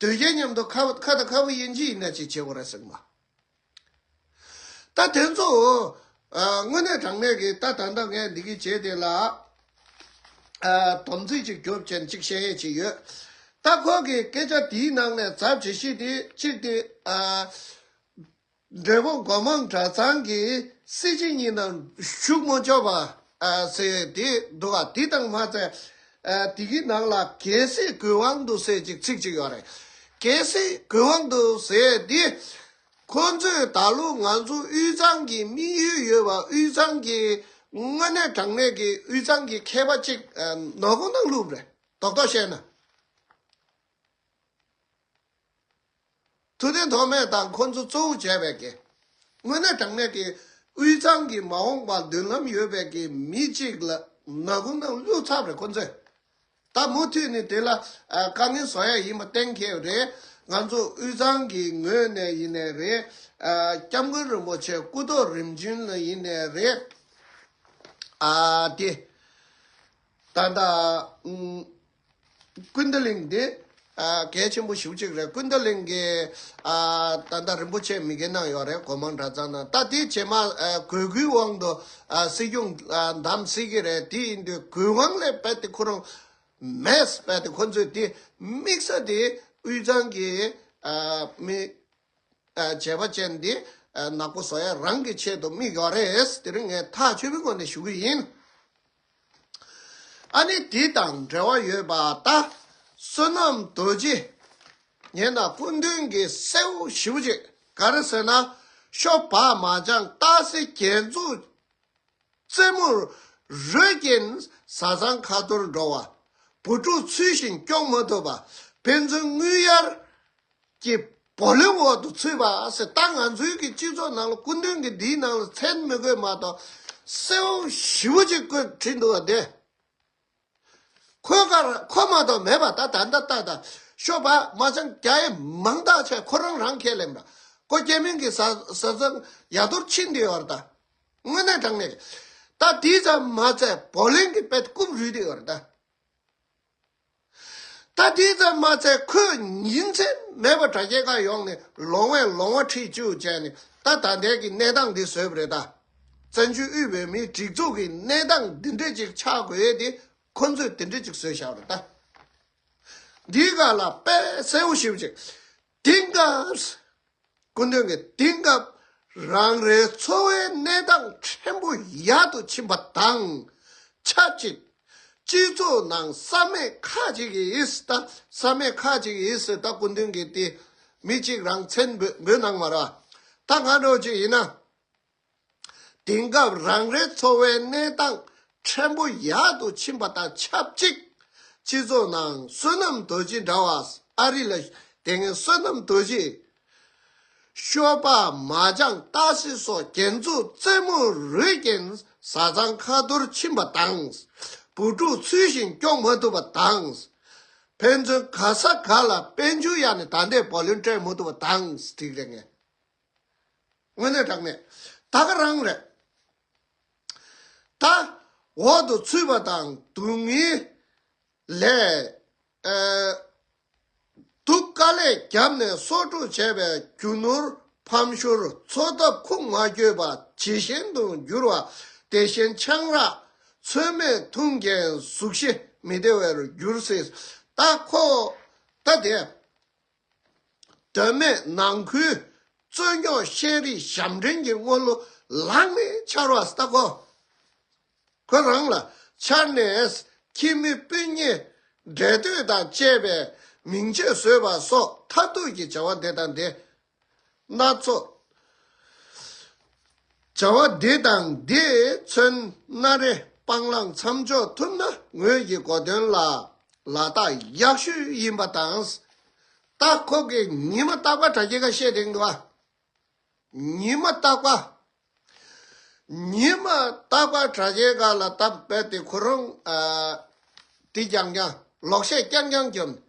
དོལ་རྒྱལ་མཉམ་དུ་ཁ་བ་དང་ཁ་བུ་དབྱེ་འབྱེད་ཡིན་ན་ཅིག་བྱེད་དགོས་ར་ཟེར་གི་མ་ད་དེ་ཚོ་དངོས་གནས་དྲང་གནས་ཀྱི་ད་ད་ལྟ་ངས་འདི་གི་བྱས་དེ་ལ་དོམ་ཚིག་ཅིག་རྒྱོབ་ཅན་ཅིག་བཤད་ཡས་ཅིག་ཡོད་ད་ཁོག་གི་སྐད་ཆ་དེའི་ནང་ནས་ཛབ་བྱེད་གཞི་དེ་གཅིག་དེ་མགྲོན་པོ་མགོ་མང་གྲྭ་ཚང་གི་སྲིད་སྤྱི་གཉིས་ནང་བཞུགས་མོ་ཅོག་པ་ཟེར་དེ་འདུག་ག་དེ་དང་མ་ཚད་དེ་གི་ནང་ལ་གལ་སྲིད་གུས་དབང་འདུག་ཟེར་ཅིག་ཚིག་ཅིག་ཡོད་རེད། གལ་སྲིད་གུས་དབང་འདུག་ཟེར་དེ། ཁོ་ཚོས་ད་ལོ་ང་ཚོ་དབུས་གཙང་གི་དམིགས་ཡུལ་ཡོད་པ་དབུས་གཙང་གི་དངོས་གནས་དྲང་གནས་ཀྱི་དབུས་གཙང་གི་མཁས་པ་གཅིག་ནོར་བུ་ནང་ལུགས་རེད་དོག་དོག་བཤད་ན། ཐུགས་རྟེན་ཐོགས་མེད་དང་འཁོར་མཚོ་གཙོ་བོར་བྱས་པའི་གེགས། སྔོན་གནས་དྲང་གནས་ཀྱི་དབུས་གཙང་གི་མ་འོངས་པར་མདུན་ལམ་ཡོད་པའི་གི་མི་གཅིག་ལ་ན་གུང་ནང་བསླུས་ཚབ་རེ་ཁོ་ཚོས་ད་མུ་མཐུད་ནས་དེ་ལ་དཀའ་ངལ་བཟོ་ཡ་ཡིན་པ་གཏན་འཁེལ་རེད་ང་ཚོ་དབུས་གཙང་གི་ངོས་ནས་ཡིན་ནས་རེད་སྐྱབས་མགོན་རིན་པོ་ཆེ་སྐུ་ཐོག་རིམ་བྱོན་ལ་ཡིན་ནས་རེད་ཨ་དེ་ད་ད་ཀུན་ད་ལིང་འདི་གལ་ཆེན་པོ་ཞུ་གཅིག་རེད་ཀུན་ད་ལིང་གི་ད་ལྟ་རིན་པོ་ཆེ་མི་དགེ་གནང་ཡོད་རེད་གོ་མང་གྲྭ་ཚང་ནང་ད་དེ་བྱེ་མ་གོས་སྐུའི་དབང་དུ་སྲིད་སྐྱོང་བདམས་སྲིད་ཀྱི་རེད་དེ་ཡིན་དུས་གོས་དབང་ལས་རྦད་དེ་ཁོ་རང་མེད་རྦད་དེ་ཁོ་ཚོས་དེ་དམིགས་ས་དེ་དབུས་གཙང་གི་མི་བྱས་པ་ཅན་འདི་ནག་པོ་བཟོ་ཡ་རང་གི་ཆེད་དུ་མིག་ཡོག་རེད་དེ་རིང་ངས་ཐག་ཆོད་པོའི་སྒོ་ནས་ཞུ་གི་ཡིན། ཨ་ནི་དེ་དང་འབྲེལ་བ་ཡོད་པ་ལྟ། བསོད་ནམས་རྡོ་རྗེ། ངས་ན་སྐུ་མདུན་གྱི་སེའུ་ཞི་བོ་ཅིག་ག་རེ་ཟེར་ན། ཤོ་བག་མ་ལྗང་བསྟག་སེ་རྒྱན་འཛུགས། རྩེ་མོར་རོས་བརྒྱན་བཟའ་ཚང་ཁ་འཐོར་འགྲོ་བ། བུ་ཕྲུག་ཚུལ་བཞིན་སྐྱོང་མ་ཐུབ་པ། ཕན་ཚུན་དངུལ་གཡར་གྱི་བུ་ལོན་འོག་ཏུ་ཚུད་པ། སྲིད་ད་ང་ཚོའི་གི་སྤྱི་ཚོགས་ནང་ལ་སྐུ་མདུན་གི་འདིའི་ནང་ལ་མཚན་མི་དགོས་མ་གཏོགས་གསལ་བོ་ཞིབ་བོ་ཅིག་བཀོད་བྲིས་འདུག་བ་དེ། ཁོས་ཁར་ཁོ་མ་གཏོགས་མེད་པ་ད་ད་ད་ད་ད་ཤོ་པ་མ་ཆང་རྒྱ་ཡེ་མང་དག་ཆ་ཁོ་རང་རང་ཁས་ལེན་པ་ཀོ་སྐྱེ་མིང་གི་ཟ་ཟ་ཟ་ཡ་རྡོར་ཕྱིན་དེ་ཡོར་ད་དངོས་གནས་དྲང་གནས་རེད་ད་དེ་ཙམ་མ་ཚད་བོ་ལིང་གི་པད་རྐུབ་རུས་དེ་ཡོར་ད་ད་དེ་ཙམ་མ་ཚད་ཁོས་ཉིན་མཚན་མེད་པར་དྲ་རྒྱའི་ཁ་ཡོང་ནས་ལོང་བས་ལོང་བ་ཁྲིད་བཅུག་བྱས་ནས་ད་ད་ལྟའི་གི་གནས་སྟངས་འདི་བཟོས་པ་རེད་ད། བཙན་བྱོལ་དབུས་བོད་མིའི་སྒྲིག་འཛུགས་ཀྱི་གནས་སྟངས་འདི་འདྲས་ཅིག་ཆགས་དགོས་ཡས་དེ་ཁོ་ཚོས་དེ་འདྲས་ཅིག་བཟོས་ཤག་རེད་ད། འདིའི་ག་ལ་དཔེ་གསལ་བོ་ཞིབ་ཅིག་དེང་སྐབས། སྐུ་མདུན་གྱི་དེང་སྐབས་རང་རེའི་འཚོ་བའི་གནས་སྟངས་ཕྲན་བུ་ཡག་ཏུ་ཕྱིན་པ་དང་ཆབས་ཅིག་སྤྱི་ཚོགས་ནང་བསམ་མེད་ཁ་ཅིག་གིས་ད་བསམ་མེད་ཁ་ཅིག་གིས་ད་སྐུ་མདུན་གྱི་དེ་མི་གཅིག་རང་བཙན་འབོད་གནང་བ་ར་ད་ང་འདྲ་བོ་ཅིག་ཡིན་ན་དེང་སྐབས་རང་རེའི་འཚོ་བའི་གནས་སྟངས་ཕྲན་བུ་ཡག་ཏུ་ཕྱིན་པ་དང་ཆབས་ཅིག་སྤྱི་ཚོགས་ནང་བསོད་ནམས་རྡོ་རྗེ་འདྲ་བ་ཨ་རི་ལ་དེ་སྔའི་བསོད་ནམས་རྡོ་རྗེ། ཤོ་པ་མ་ལྗང་སྟག་སེ་སོགས་རྒྱན་འཛུགས་རྩེད་མོ་རུས་རྒྱན་བཟའ་ཚང་ཁ་འཐོར་ཕྱིན་པ་དང། བུ་ཕྲུག་ཚུལ་བཞིན་སྐྱོང་མ་ཐུབ་པ་དང། ཕན་ཚུན་ག་ས་ག་ལ་དཔལ་འབྱོར་ཡག་ནས་ད་ལྟའི་བ་ལོན་སྤྲད་མ་ཐུབ་པ་དང་སྒྲིག་རེ་ངན། དངོས་གནས་གྲགས་མེད་ད་ག་རང་རེད། ད་འོག་ཏུ་ཚུད་པ་དང་སྡུག་བསྔལ་ལས་སྡུག་དཀའ་ལས་རྒྱབ་ནས་གསོག་སྒྲུག་བྱས་པའི་རྒྱུ་ནོར་ཕམ་ཤུར་འཚོ་ཐབས་ཁུག་མ་བསྐྱོད་པ་ཇི་བཞིན་དུ་འགྱུར་བ་དེ་བཞིན་ཆང་རག་ཚོད་མེད་འཐུང་རྐྱེན་གཟུགས་གཞི་མི་བདེ་བའི་རྒྱུར་སྲིད་ད་ཁོ་ད་དེ། སྒྲོལ་མས་ནང་ཁུལ་རྩོད་རྙོག་ཤེས་རིག་ཞབས་འདྲེན་གྱི་དངོས་གླུ་ལག་ནས་འཆར་བ་ལྟ་གོ། ཁོ་རང་ལ་འཆར་ནས་ཁྱིམ་མི་སྤུན་ཉེ་འབྲེལ་ལྟོས་དང་བཅས་པས་མིང་ཆོས་བཟོས་པ་སོགས་མཐར་ཐུག་གི་བྱ་བ་འདི་དང་འདི། སྣ་ཚོགས། བྱ་བ་འདི་དང་འདི་མཚོན་སྣ་རེ་སྤང་བླང་མཚམས་འཇོག་ཐུབ་ན་ངོས་ཀྱི་གོ་དོན་ལ་ལ་དག་ཡག་ཤོས་ཡིན་པ་དང། རྟགས་ཁོ་གེ་ཉི་མ་རྟག་པ་དྲ་རྒྱའི་ཁ་ཤས་རིང་དུ། ཉི་མ་རྟག་པ། ཉི་མ་རྟག་པ་དྲ་རྒྱའི་ཁ་ལ་དག་སྤེལ་ཏེ་ཁོ་རང་དེ་རྐྱང་རྐྱང་ལོག་བཤད་རྐྱང་རྐྱང་བརྒྱབ་ནས།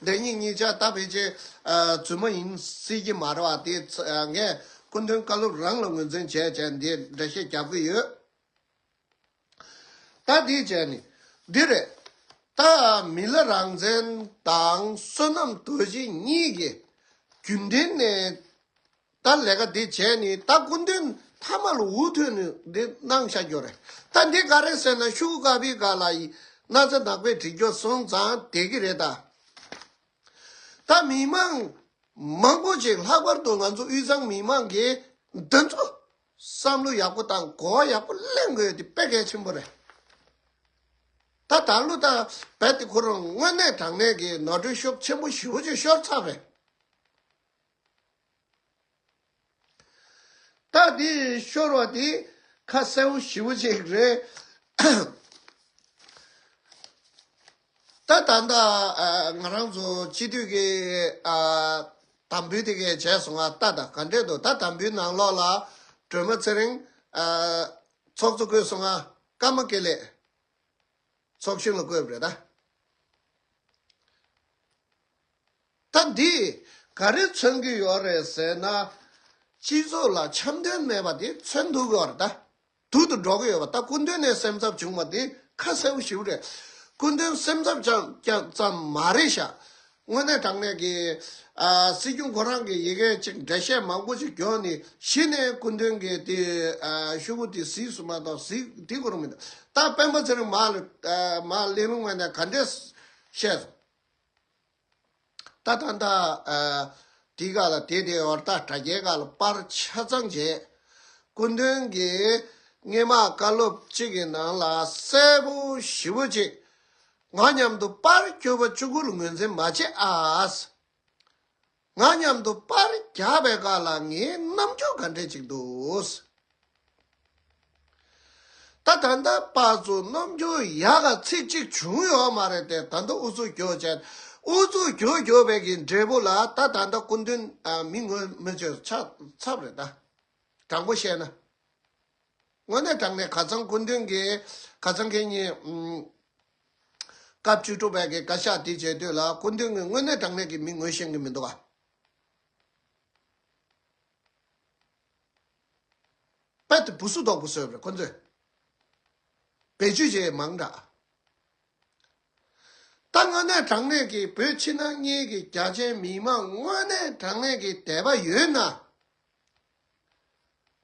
བདེན་གཉིས་གཉིས་ཆ་ལྟ་བས་ཅན། རྫུན་མ་ཡིན་སྲིད་ཀྱི་མ་རེད་བ་དེ། ངས་སྐུ་མདུན་བཀའ་སློབ་རང་ལ་ངོས་འཛིན་བྱས་བྱས་འདི་འདྲ་ཤེས་རྒྱབ་གི་ཡོད། ད་འདིའི་བྱས་ནི་འདི་རེད། ད་མི་ལ་རང་བཙན་དང་བསོད་ནམས་དོད་གཞི་གཉིས་ཀྱི་རྒྱུན་ལྡན་ནས། ད་ལས་ཀ་འདི་བྱས་ནས་ད་སྐུ་མདུན་མཐའ་མ་ལ་འུ་ཐུག་ནས་འདི་གནང་བྱ་རྒྱུ་རེད། ད་འདི་ག་རེད་ཟེར་ན་ཤུག་དཀར་པོའི་ག་ལ་ཡི་ན་ཚ་ནག་པའི་གྲི་རྒྱོ་སོང་ཙང་དེ་གི་རེད་ད། ད་མི་མང་མང་པོ་ཞིག་ལྷག་པར་དུ་ང་ཚོ་དབུས་གཙང་མི་མང་གི་འདི་ཚོ་བསམ་བློ་ཡག་པོ་དང་གོ་བ་ཡག་པོ་གླེང་དགོས་དེ་དཔེ་གལ་ཆེན་པོ་རེད། ད་ད་ལོ་ད་བལ་དེ་ཁོ་རང་དངོས་གནས་དྲང་གནས་ཀྱི་ནོར་འཁྲུལ་ཤོག་ཆེན་པོ་ཞིག་ཤོར་ཚར་རེད། རྟགས་འདི་ཤོར་བ་དེ་ཁ་གསལ་བོ་ཞིབ་བོ་ཅིག་རེད། ད་ད་ལྟ་ང་རང་ཚོ་སྤྱི་འཐུས་ཀྱི་དམ་འབུལ་དེ་གས་བྱས་སོང་ང་ལྟ་དང་ག་འདྲས་འདུག་ད་དམ་འབུལ་ནང་ལོགས་ལ་སྒྲོལ་མ་ཚེ་རིང་ཚོགས་གཙོ་བསྐོས་སོང་ང་ཀརྨ་དགེ་ལེགས་ཚོགས་གཞོན་ལ་བསྐོས་པ་རེད་ད། སྟབས་འདིས་ག་རེ་མཚོན་གྱི་ཡོད་རེད་ཟེར་ན། སྤྱི་ཚོགས་ལ་འཆམ་མཐུན་མེད་པ་དེ་མཚོན་ཐུབ་ཡོད་རེད། དུག་ཏུ་འགྲོ་གི་ཡོད་པ་ལྟ་སྐུ་མདུན་ནས་སེམས་འཚབ་བྱུང་བ་དེ་ཁ་གསལ་ཞིག་རེད། སྐུ་མདུན་སེམས་འཚབ་བཅངས་ཙམ་མ་རེད་ཤག། དངོས་གནས་དྲང་གནས་ཀྱི། སྲིད་སྐྱོང་ཁོ་རང་གིས་ཡི་གེ་གཅིག་འགྲེལ་བཤད་མང་པོ་ཞིག་བསྐྱོན་ནས་གཞི་ནས་སྐུ་མདུན་གྱི་དེ་ཤུ་བོ་དེ་གཟིགས་སུ་མ་གཏོགས་གཟིགས་དེ་གོ་རིགས་མི་འདུག་ད་སྤེན་པ་ཚེ་རིང་མ་གླིང་རུང་བས་ནས་ག་འདྲས་བཤད་སོང། ཏདྷ་ནྟ། དེའི་ག་ལ་དེ་དེའི་བར་ཏདྷ་རྒྱལ་ག་ལ་པར་ཆ་ཚང་བྱས། སྐུ་མདུན་གྱི་སྔས་མ་བཀའ་སློབ་གཅིག་གི་ནང་ལ་སྲས་པོ་བཞི་བོ་གཅིག་ང་མཉམ་དུ་པར་བསྐྱོད་པ་བཅུ་དགུར་ངོས་འཛིན་མ་བྱས་ཨཱས། ང་མཉམ་དུ་པར་རྒྱག་པའི་ག་ལ་ངའི་རྣམ་འགྱུར་ག་འདྲས་ཅིག་འདུག། ད་ད་ལྟ་དཔའ་ཚུལ་རྣམ་འགྱུར་ཡག་ག་ཚིག་གཅིག་བྱུང་ཡོད་མ་རེད་དེ་ད་ལྟ་ཨུ་ཚུགས་རྒྱོ་ཅན་ཨུ་ཚུགས་རྒྱོ་རྒྱོ་བའི་གི་འབྲས་བུ་ལ་ད་ད་ལྟ་སྐུ་མདུན་མི་ངོ་མི་ཆོད་ཆ་ཚབ་རེད་ད་དྲང་པོ་བཤད་ན་དངོས་གནས་དྲང་ནས་ག་ཚང་སྐུ་མདུན་གི་ག་ཚང་གི་གཉིས་སྐབས་བཅུ་དྲུག་པའི་གི་བཀའ་ཤག་དེ་བྱེད་དུས་ལ་སྐུ་མདུན་གི་དངོས་གནས་དྲང་གནས་གི་མི་ངོ་ཤེས་གི་མི་འདུག་ག། པད་དུ་བུ་སུ་དོག་པོ་བཟོས་པར་ཁོ་ཚོས་བེད་སྤྱོད་བྱེད་ཡས་མང་འདྲ། ད་དངོས་གནས་དྲང་གནས་ཀྱི་བོད་ཕྱི་ནང་གཉིས་ཀྱི་རྒྱ་ཆེན་མི་དམངས་དངོས་གནས་དྲང་གནས་ཀྱི་དད་པ་ཡོད་ན།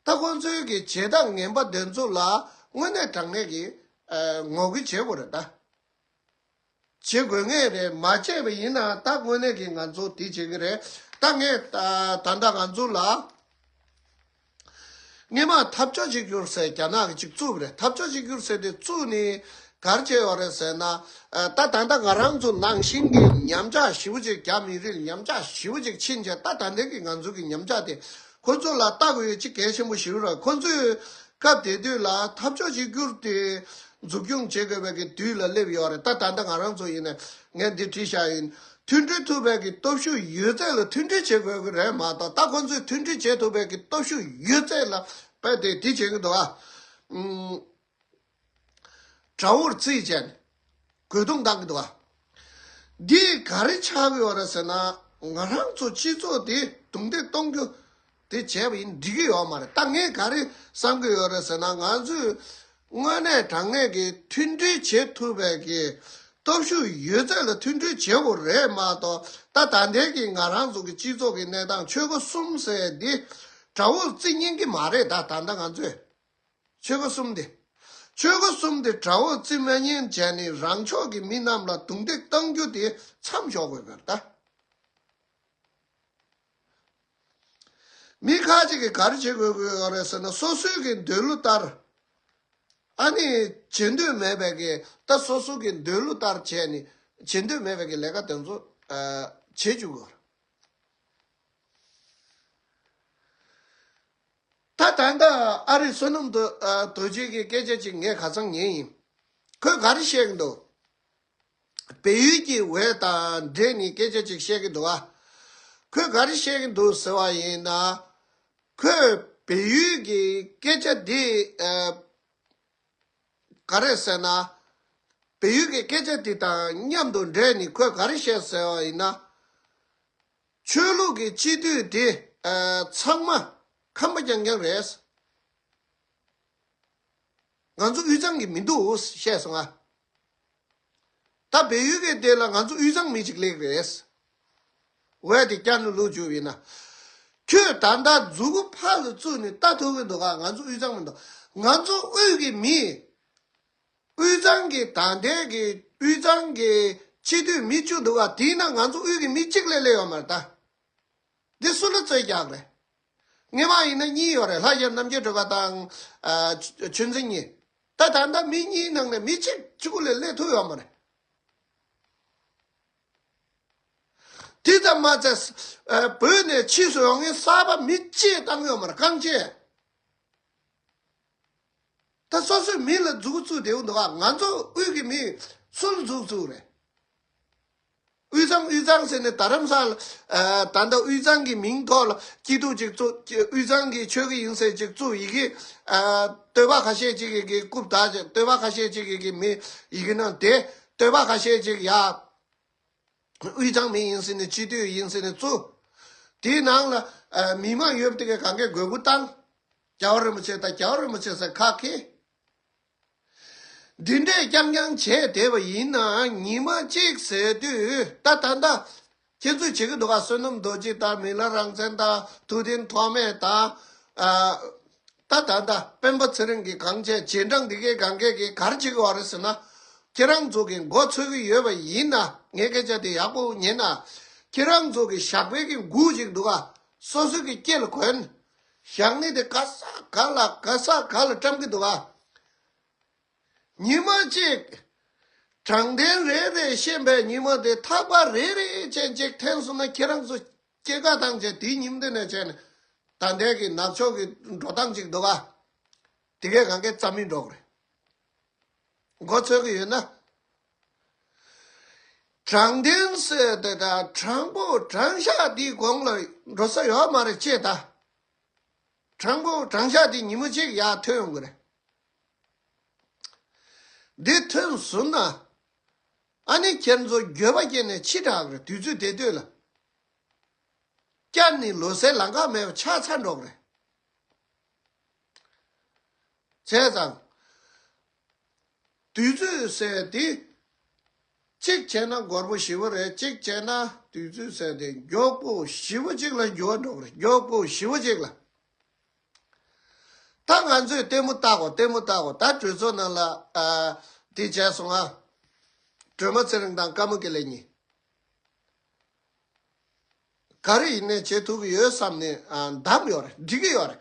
ད་ཁོ་ཚོའི་གི་བྱེད་སྟངས་ངན་པ་འདོན་ཚོ་ལ་དངོས་གནས་དྲང་གནས་ཀྱི་ངོ་རྒོལ་བྱེད་དགོས་རེད་ད། བྱེད་དགོས་ངེས་རེད་མ་བྱས་པ་ཡིན་ན་ད་དངོས་གནས་ཀྱི་ང་ཚོ་དེ་བྱེད་ཀྱི་རེད་ད་ངས་ད་ལྟ་ང་ཚོ་ལ་སྔས་མ་འཐབ་རྕོ་གཅིག་གྱུར་ཟེར་རྒྱ་ནག་གི་གཅིག་བཙུགས་རེད་འཐབ་རྕོ་གཅིག་གྱུར་ཟེར་དེ་བཙུགས་ནས་གར་བྱས་ཡོད་རེད་ཟེར་ན་ད་ད་ལྟ་ང་རང་ཚོ་ནང་བཞིན་གྱི་ཉམས་ཆག་ཞིབ་བོ་ཅིག་རྒྱ་མི་རིགས་ཉམས་ཆག་ཞིབ་བོ་ཅིག་ཕྱིན་རྗེས་ད་ད་ལྟའི་ཀྱི་ང་ཚོ་གྱི་ཉམས་ཆག་དེ་ཁོ་ཚོ་ལ་བཏགས་ཡོད་ཅི་གལ་ཆེན་པོ་ཞིག་རེད་ཁོ་ཚོས་སྐབས་དེ་དུས་ལ་འཐབ་ཕྱོགས་གཅིག་གྱུར་དེ་འཛུགས་སྐྱོང་བྱེད་དགོས་པའི་དུས་ལ་སླེབས་ཡོད་རེད་ད་ད་ལྟ་ང་རང་ཚོ་ཡིན་ནས་ངས་འདི་བྲིས་ཤག་ཡིན། མཐུན་སྒྲིལ་ཐུབ་པའི་སྟོབས་ཤུགས་ཡོད་ཚད་ལ་མཐུན་སྒྲིལ་བྱེད་དགོས་ཀྱི་རེད་མ་གཏོགས་ད་ཁོ་ཚོས་མཐུན་སྒྲིལ་བྱེད་ཐུབ་པའི་སྟོབས་ཤུགས་ཡོད་ཚད་ལ་དཔེ་དེ་དེ་བྱེད་ཀྱི་འདུག་ཨ། དགྲ་བོར་རྩིས་བྱས་ནས་རྒོལ་རྡུང་བཏང་གི་འདུག་འདིས་ག་རེ་ཆགས་ཀྱི་ཡོད་རེད་ཟེར་ན་ང་རང་ཚོ་སྤྱི་ཚོགས་དེ་རྡུང་རྡེག་གཏོང་རྒྱུ་དེ་བྱས་པ་ཡིན་འགྲིག་གི་ཡོད་མ་རེད་ད་ངས་ག་རེ་བསམ་གྱི་ཡོད་རེད་ཟེར་ན་ང་ཚོས་དངོས་གནས་དྲང་གནས་ཀྱི་མཐུན་སྒྲིལ་བྱེད་ཐུབ་པའི་གི་སྟོབས་ཤུགས་ཡོད་ཚད་ལ་མཐུན་སྒྲིལ་བྱེད་པོ་རེད་མ་གཏོགས་ད་ད་ལྟའི་གི་ང་རང་ཚོ་གི་སྤྱི་ཚོགས་ཀྱི་གནས་སྟངས་ཆོས་སྒོ་གསུམ་ཟེར་འདི་དགྲ་བོར་རྩིས་ཉན་གྱི་མ་རེད་ད་ད་ལྟ་ང་ཚོས། ཆོལ་ཁ་གསུམ་དེ། ཆོལ་ཁ་གསུམ་དེ་དགྲ་བོར་རྩིས་མེད་ཉེན་བྱས་ནས་རང་ཕྱོགས་ཀྱི་མི་རྣམས་ལ་རྡུང་རྡེག་བཏང་རྒྱུ་དེ་མཚམས་འཇོག་དགོས་པར་གདའ། མི་ཁག་ཅིག་གིས་གར་བྱེད་དགོས་ཀྱི་ཡོད་རེད་ཟེར་ན་སོ་སོའི་གི་འདོད་བློ་ལྟར། ཨ་ནི་བྱེད་འདོད་མེད་པའི་གི་ད་སོ་སོ་གི་འདོད་བློ་ལྟར་བྱས་ནས་བྱེད་འདོད་མེད་པའི་གི་ལས་ཀ་དེ་ཚོ་བྱེད་བཅུག་གི་ཡོད་རེད། ད་ལྟ་འདི་ཨ་རིའི་བསོད་ནམས་དུ་དོད་རྒྱུད་ཀྱི་སྐད་ཆ་ཅིག་ངས་ག་ཚང་ཉན་ཡིན། ཁོས་ག་རེ་བཤད་གི་འདུག་བལ་ཡུལ་གྱི་ཝེར་དང་འབྲེལ་ནས་སྐད་ཆ་ཅིག་བཤད་གི་འདུག་ཨ། ཁོས་ག་རེ་བཤད་གི་འདུག་ཟེར་བ་ཡིན་ན། ཁོས་བལ་ཡུལ་གྱི་སྐད་ཆ་འདི། ག་རེ་ཟེར་ན། བལ་ཡུལ་གྱི་སྐད་ཆ་དེ་དང་མཉམ་དུ་འབྲེལ་ནས་ཁོས་ག་རེ་བཤད་ཟེར་བ་ཡིན་ན། ཆོས་ལུགས་ཀྱི་སྤྱི་མཐུས་དེ་ཚང་མ་ཁམས་པ་རྐྱང་རྐྱང་རེད། ང་ཚོ་དབུས་གཙང་གི་མི་འདུག་བཤད་སོང་ཨ། ད་བལ་ཡུལ་གྱི་སྡེ་ལ་ང་ཚོ་དབུས་གཙང་མི་གཅིག་ལེགས་རེད། འོད་དེ་སྐྱར་ནུ་ལུག་འཇུ་བས་ན། ཁྱོད་ད་ལྟ་རྫུ་གུ་ཕར་ལ་བཙུགས་ནས་ལྟ་ཐུབ་ཀྱི་འདུག་ག་ང་ཚོ་དབུས་གཙང་མི་འདུག་ང་ཚོ་དབུས་ཀྱི་མི། དབུས་གཙང་གི་ད་ལྟའི་གི་དབུས་གཙང་གི་སྤྱི་འཐུས་མི་བཅུ་འདུག་ག་དེའི་ནང་ང་ཚོ་དབུས་ཀྱི་མི་གཅིག་ལས་སླེབས་ཡོད་མ་རེད་ད། འདི་སུ་ལ་རྩོད་རྒྱག་རེད། ངེད་མ་ཡིན་ན་གཉིས་ཡོད་རེད་ལྷ་རྒྱལ་རྣམ་རྒྱལ་སྒྲོལ་པ་དང། ཆོས་འཛིན་གཉིས། ད་ད་ལྟ་མི་གཉིས་ནང་ནས་མི་གཅིག་གཅིག་པུ་ལས་སླེབས་ཐུབ་ཡོད་མ་རེད། དེ་ཙམ་མ་ཚད་བོད་ནས་ཕྱིས་སུ་ཡོང་མཁན་གསར་པ་མི་བཅས་བཏང་ཡོད་མ་རེད་རྐང་བཅས། ད་སོ་སོའི་མི་ལ་འཛུགས་བཙུགས་འབྲེལ་འདུག་ང་ཚོ་དབུས་ཀྱི་མི་སུ་ལ་འཛུགས་བཙུགས་རེད། དབུས་གཙང་དབུས་གཙང་ཟེར་ནས་ད་རམ་ས་ལ་ད་ལྟ་དབུས་གཙང་གི་མིང་ཐོག་ལ་སྐྱིད་སྡུག་ཅིག་བཙུགས་དབུས་གཙང་གི་ཆོལ་ཁ་ཡིན་ཟེར་ཅིག་བཙུགས་ཡི་གེ་བསྟོད་པ་ཁ་ཤས་ཅིག་གིས་རྐུབ་དག་ཅིག་བསྟོད་པ་ཁ་ཤས་ཅིག་གིས་གིས་མི་ཡི་གེ་ནང་དེ་བསྟོད་པ་ཁ་ཤས་ཅིག་ཡ་དབུས་གཙང་མི་ཡིན་ཟེར་ནས་སྤྱི་འཐུས་ཡིན་ཟེར་ནས་བཙུགས། དེའི་ནང་ལ་མི་མང་ཡོད་པ་དེ་གས་གང་གས་དགོས་མཁོ་བཏང། རྒྱ་བ་རིན་པོ་ཆེ་དང་རྒྱ་བ་རིན་པོ་ཆེ་ཟེར་ཁག་གིས་འདི་འདྲས་རྐྱང་རྐྱང་བྱས་བསྡད་པ་ཡིན་ན་ཉིན་མ་གཅིག་ཟེར་དུས་ད་ད་ལྟ་ཁྱེད་ཚོས་བྱེད་ཀྱི་འདུག་ག་བསོད་ནམས་རྡོ་རྗེ་དང་མི་ལ་རང་བཙན་དང་ཐུགས་བདེན་ཐོགས་མེད་དང། ད་ད་ད་སྤེན་པ་ཚེ་རིང་གིས་གང་བྱས་རྗེས་འབྲང་འདི་གས་གང་གས་ཀྱིས་གར་བྱེད་ཀྱི་བ་རེད་ཟེར་ན་ཁྱེད་རང་ཚོ་གིས་མགོ་འཚོས་ཀྱི་ཡོད་པ་ཡིན་ན་ངས་སྐད་ཆ་དེ་ཡག་པོ་ཉན་ན་ཁྱེད་རང་ཚོ་གིས་ཞག་པད་ཀྱི་མགུ་ཅིག་འདུག་ག་སོ་སོ་གྱི་སྐྱེ་ལ་གོན། བཞག་ནས་དེ་ག་ས་ག་ལ་ག་ས་ག་ལ་བཀྲམ་གྱི་འདུག་ཨ། ཉི་མ་གཅིག། དྲང་བདེན་རེད་རེད་བཤད་པའི་ཉི་མ་དེ་ཐག་པ་རེད་རེད་ཅན་གཅིག་འཐེན་སོང་ན་ཁྱེད་རང་ཚོ་སྐྱེ་རྒ་དང་བཅས་དེའི་ཉིན་དེ་ནས་བྱས་ནས་ད་ལྟའི་གི་ནག་ཕྱོགས་གི་འགྲོ་སྟངས་གཅིག་འདུག་ཨ། དེ་གས་གང་གས་རྩ་མི་འགྲོ་གི་རེད། མགོ་ཚོས་ཀྱི་ཡོད་ན། དྲང་བདེན་བསོད་བདེ་དང་དྲང་པོ་དྲང་བཞག་འདིའི་དགོངས་ལ་འགྲོ་ས་ཡོད་མ་རེད་ཅེས་དང། དྲང་པོ་དྲང་བཞག་འདི་ཉིན་མོ་གཅིག་ཡར་ཐོན་ཡོང་གི་རེད། འདི་ཐོན་ཟིན་ན། ཨ་ནི་ཁྱེད་ཚོ་འགྱོད་པ་སྐྱེས་ནས་འཆི་དྲག་རེད་དུས་ཚོད་དེ་ལྟོས་ལ། བསྐྱར་ནི་ལོ་སའི་ལམ་ཁ་མེད་པ་ཆགས་ཚར་འགྲོ་གི་རེད། བྱས་ཙང། དུས་ཚོད་བསལ་ཏེ། གཅིག་བྱས་ན་སྒོར་མོ་བཞི་བོ་རེད་གཅིག་བྱས་ན་དུས་ཚོད་བསལ་ཏེ་མགྱོགས་པོ་བཞི་བོ་གཅིག་ལ་འགྱུར་བ་འགྲོ་གི་རེད་མགྱོགས་པོ་བཞི་བོ་གཅིག་ལ། ད་ང་ཚོས་ལྟད་མོ་བལྟ་གོ་ལྟད་མོ་བལྟ་གོ་ད་གྲོས་ཚོགས་ནང་ལ་དེ་བྱས་སོང་ང། སྒྲོལ་མ་ཚེ་རིང་དང་དཀར་མོ་ཀེ་ལེ་གཉིས། ག་རེ་ཡིན་ནས་བྱེད་ཐུབ་ཀྱི་ཡོད་བསམ་ནས་གདམ་ཡོད་རེད་འགྲིག་གི་ཡོད་རེད།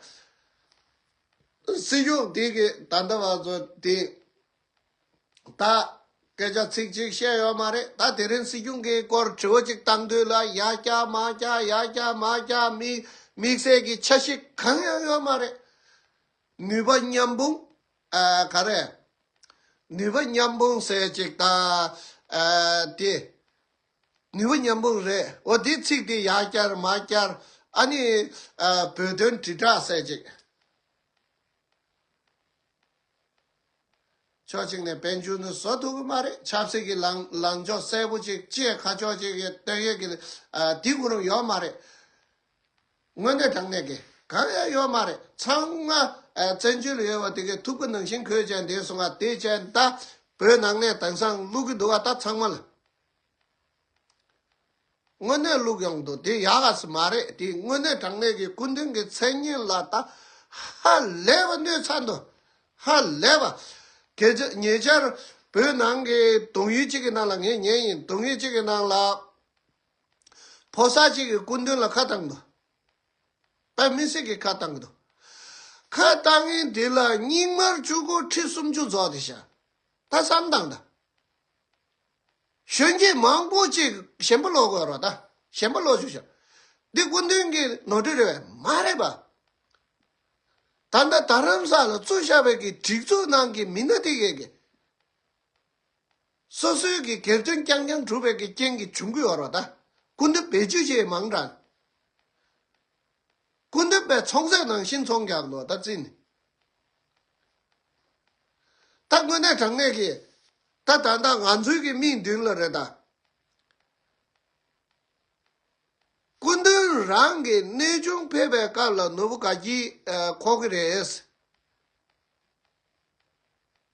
སྲིད་གཞུང་དེ་གི་ད་ལྟ་བ་ཚོ་དེ་ད་སྐད་ཆ་ཚིག་གཅིག་བཤད་ཡོད་མ་རེད་ད་དེ་རིང་སྲིད་གཞུང་གི་སྐོར་དྲི་བ་གཅིག་བཏང་དུས་ལ་ཡ་སྐྱག་མ་སྐྱག་ཡ་སྐྱག་མ་སྐྱག་དམིགས་བསལ་གྱི་ཆ་ཤིག་གང་ཡང་ཡོད་མ་རེད། ནུས་པ་མཉམ་སྤུང་ག་རེ་ནུས་པ་མཉམ་སྤུང་ཟེར་ཅིག་ད་དེ་ནུས་པ་མཉམ་སྤུངས་རེད་འོ་དེའི་ཚིག་དེ་ཡག་བསྐྱར་མ་བསྐྱར་ཨ་ནི། བོད་དོན་དྲིལ་བསྒྲགས་གསལ་བྱེད། ཕྱོགས་གཅིག་ནས་བན་ཆུང་དུ་བཟོ་ཐུབ་ཀྱི་མ་རེད་ཆབ་སྲིད་ཀྱི་ལངས་ཕྱོགས་གསལ་པོ་ཅིག་བཅས་ཁ་ཕྱོགས་གཅིག་གི་སྟོད་གཡོགས་ཀྱི་དེ་གོ་རིམ་ཡོད་མ་རེད། དངོས་གནས་དྲང་གནས་ཀྱི་གང་ཡང་ཡོད་མ་རེད་ཚང་མ་བཙན་བྱོལ་ལ་ཡོད་པ་དེ་གའི་ཐུགས་ཀྱི་ནང་བཞིན་གོས་ཅན་འདེབས་སོང་ང་དེ་བྱས་ད་བོད་ནང་ནས་དེང་སང་བླུག་གི་འདུག་བ་ད་ཚང་མ་ལ། དངོས་གནས་བླུགས་ཡོང་དུ་དེ་ཡག་ག་ཟིག་མ་རེད་དེ་དངོས་གནས་དྲང་གནས་ཀྱི་སྐུ་མདུན་གྱི་མཚན་སྙན་ལ་ད་ཧ་ལས་པ་གནོད་ཚ་འདུག་ཧ་ལས་པ། གལ་ཆེ་ཉེ་ཆར་བོད་ནང་གི་དུང་ཡུལ་གཅིག་གི་ནང་ལ་ངས་ཉན་ཡིན་དུང་ཡུལ་གཅིག་གི་ནང་ལ་ཕོ་གསར་གཅིག་གི་སྐུ་མདུན་ལ་ཁ་བཏང་འདུག་བོད་མི་སེར་གྱི་ཁ་བཏང་གི་འདུག་ཁ་བཏང་ཡིན་དེ་ལ་སྙིགས་མར་བཅུ་དགུ་ཁྲི་སུམ་ཅུ་རྫོགས་ཏེ་བཞག་ད་བསམ་དང་ད། གཞོན་སྐྱེས་མང་པོ་ཅིག་ཞན་པོ་ལོག་གོ་རོ་ད་ཞན་པོ་ལོག་ཅིག་བྱ། འདི་སྐུ་མདུན་གྱི་ནོར་འཁྲུལ་རེད་བས་མ་རེད་པ། ད་ལྟ་རྡ་རམ་ས་ལ་གཙོས་ཤ་བོད་ཀྱི་སྒྲིག་འཛུགས་ནང་གི་མི་སྣ་དེ་གས་གས། སོ་སོའི་གི་སྒེར་དོན་རྐྱང་རྐྱང་བསྒྲུབ་པའི་གི་རྐྱེན་གྱི་བྱུང་གི་ཡོ་རོ་ད། སྐུ་མདུན་བེད་སྤྱོད་བྱེད་མང་དྲགས། སྐུ་མདུན་པའི་ཚོང་ཟས་ནང་བཞིན་ཚོང་རྒྱག་ནོ་ད་བརྩི་ནས། ད་དངོས་གནས་དྲང་གནས་ཀྱིས་ད་ད་ད་ང་ཚོའི་གི་མིག་མདུན་ལ་རེད་ད། སྐུ་མདུན་རང་གི་གནས་ཆུང་ཕེབས་པའི་སྐབས་ལ་ནོར་བུ་ག་གྱིས་ཁོག་གི་རེད།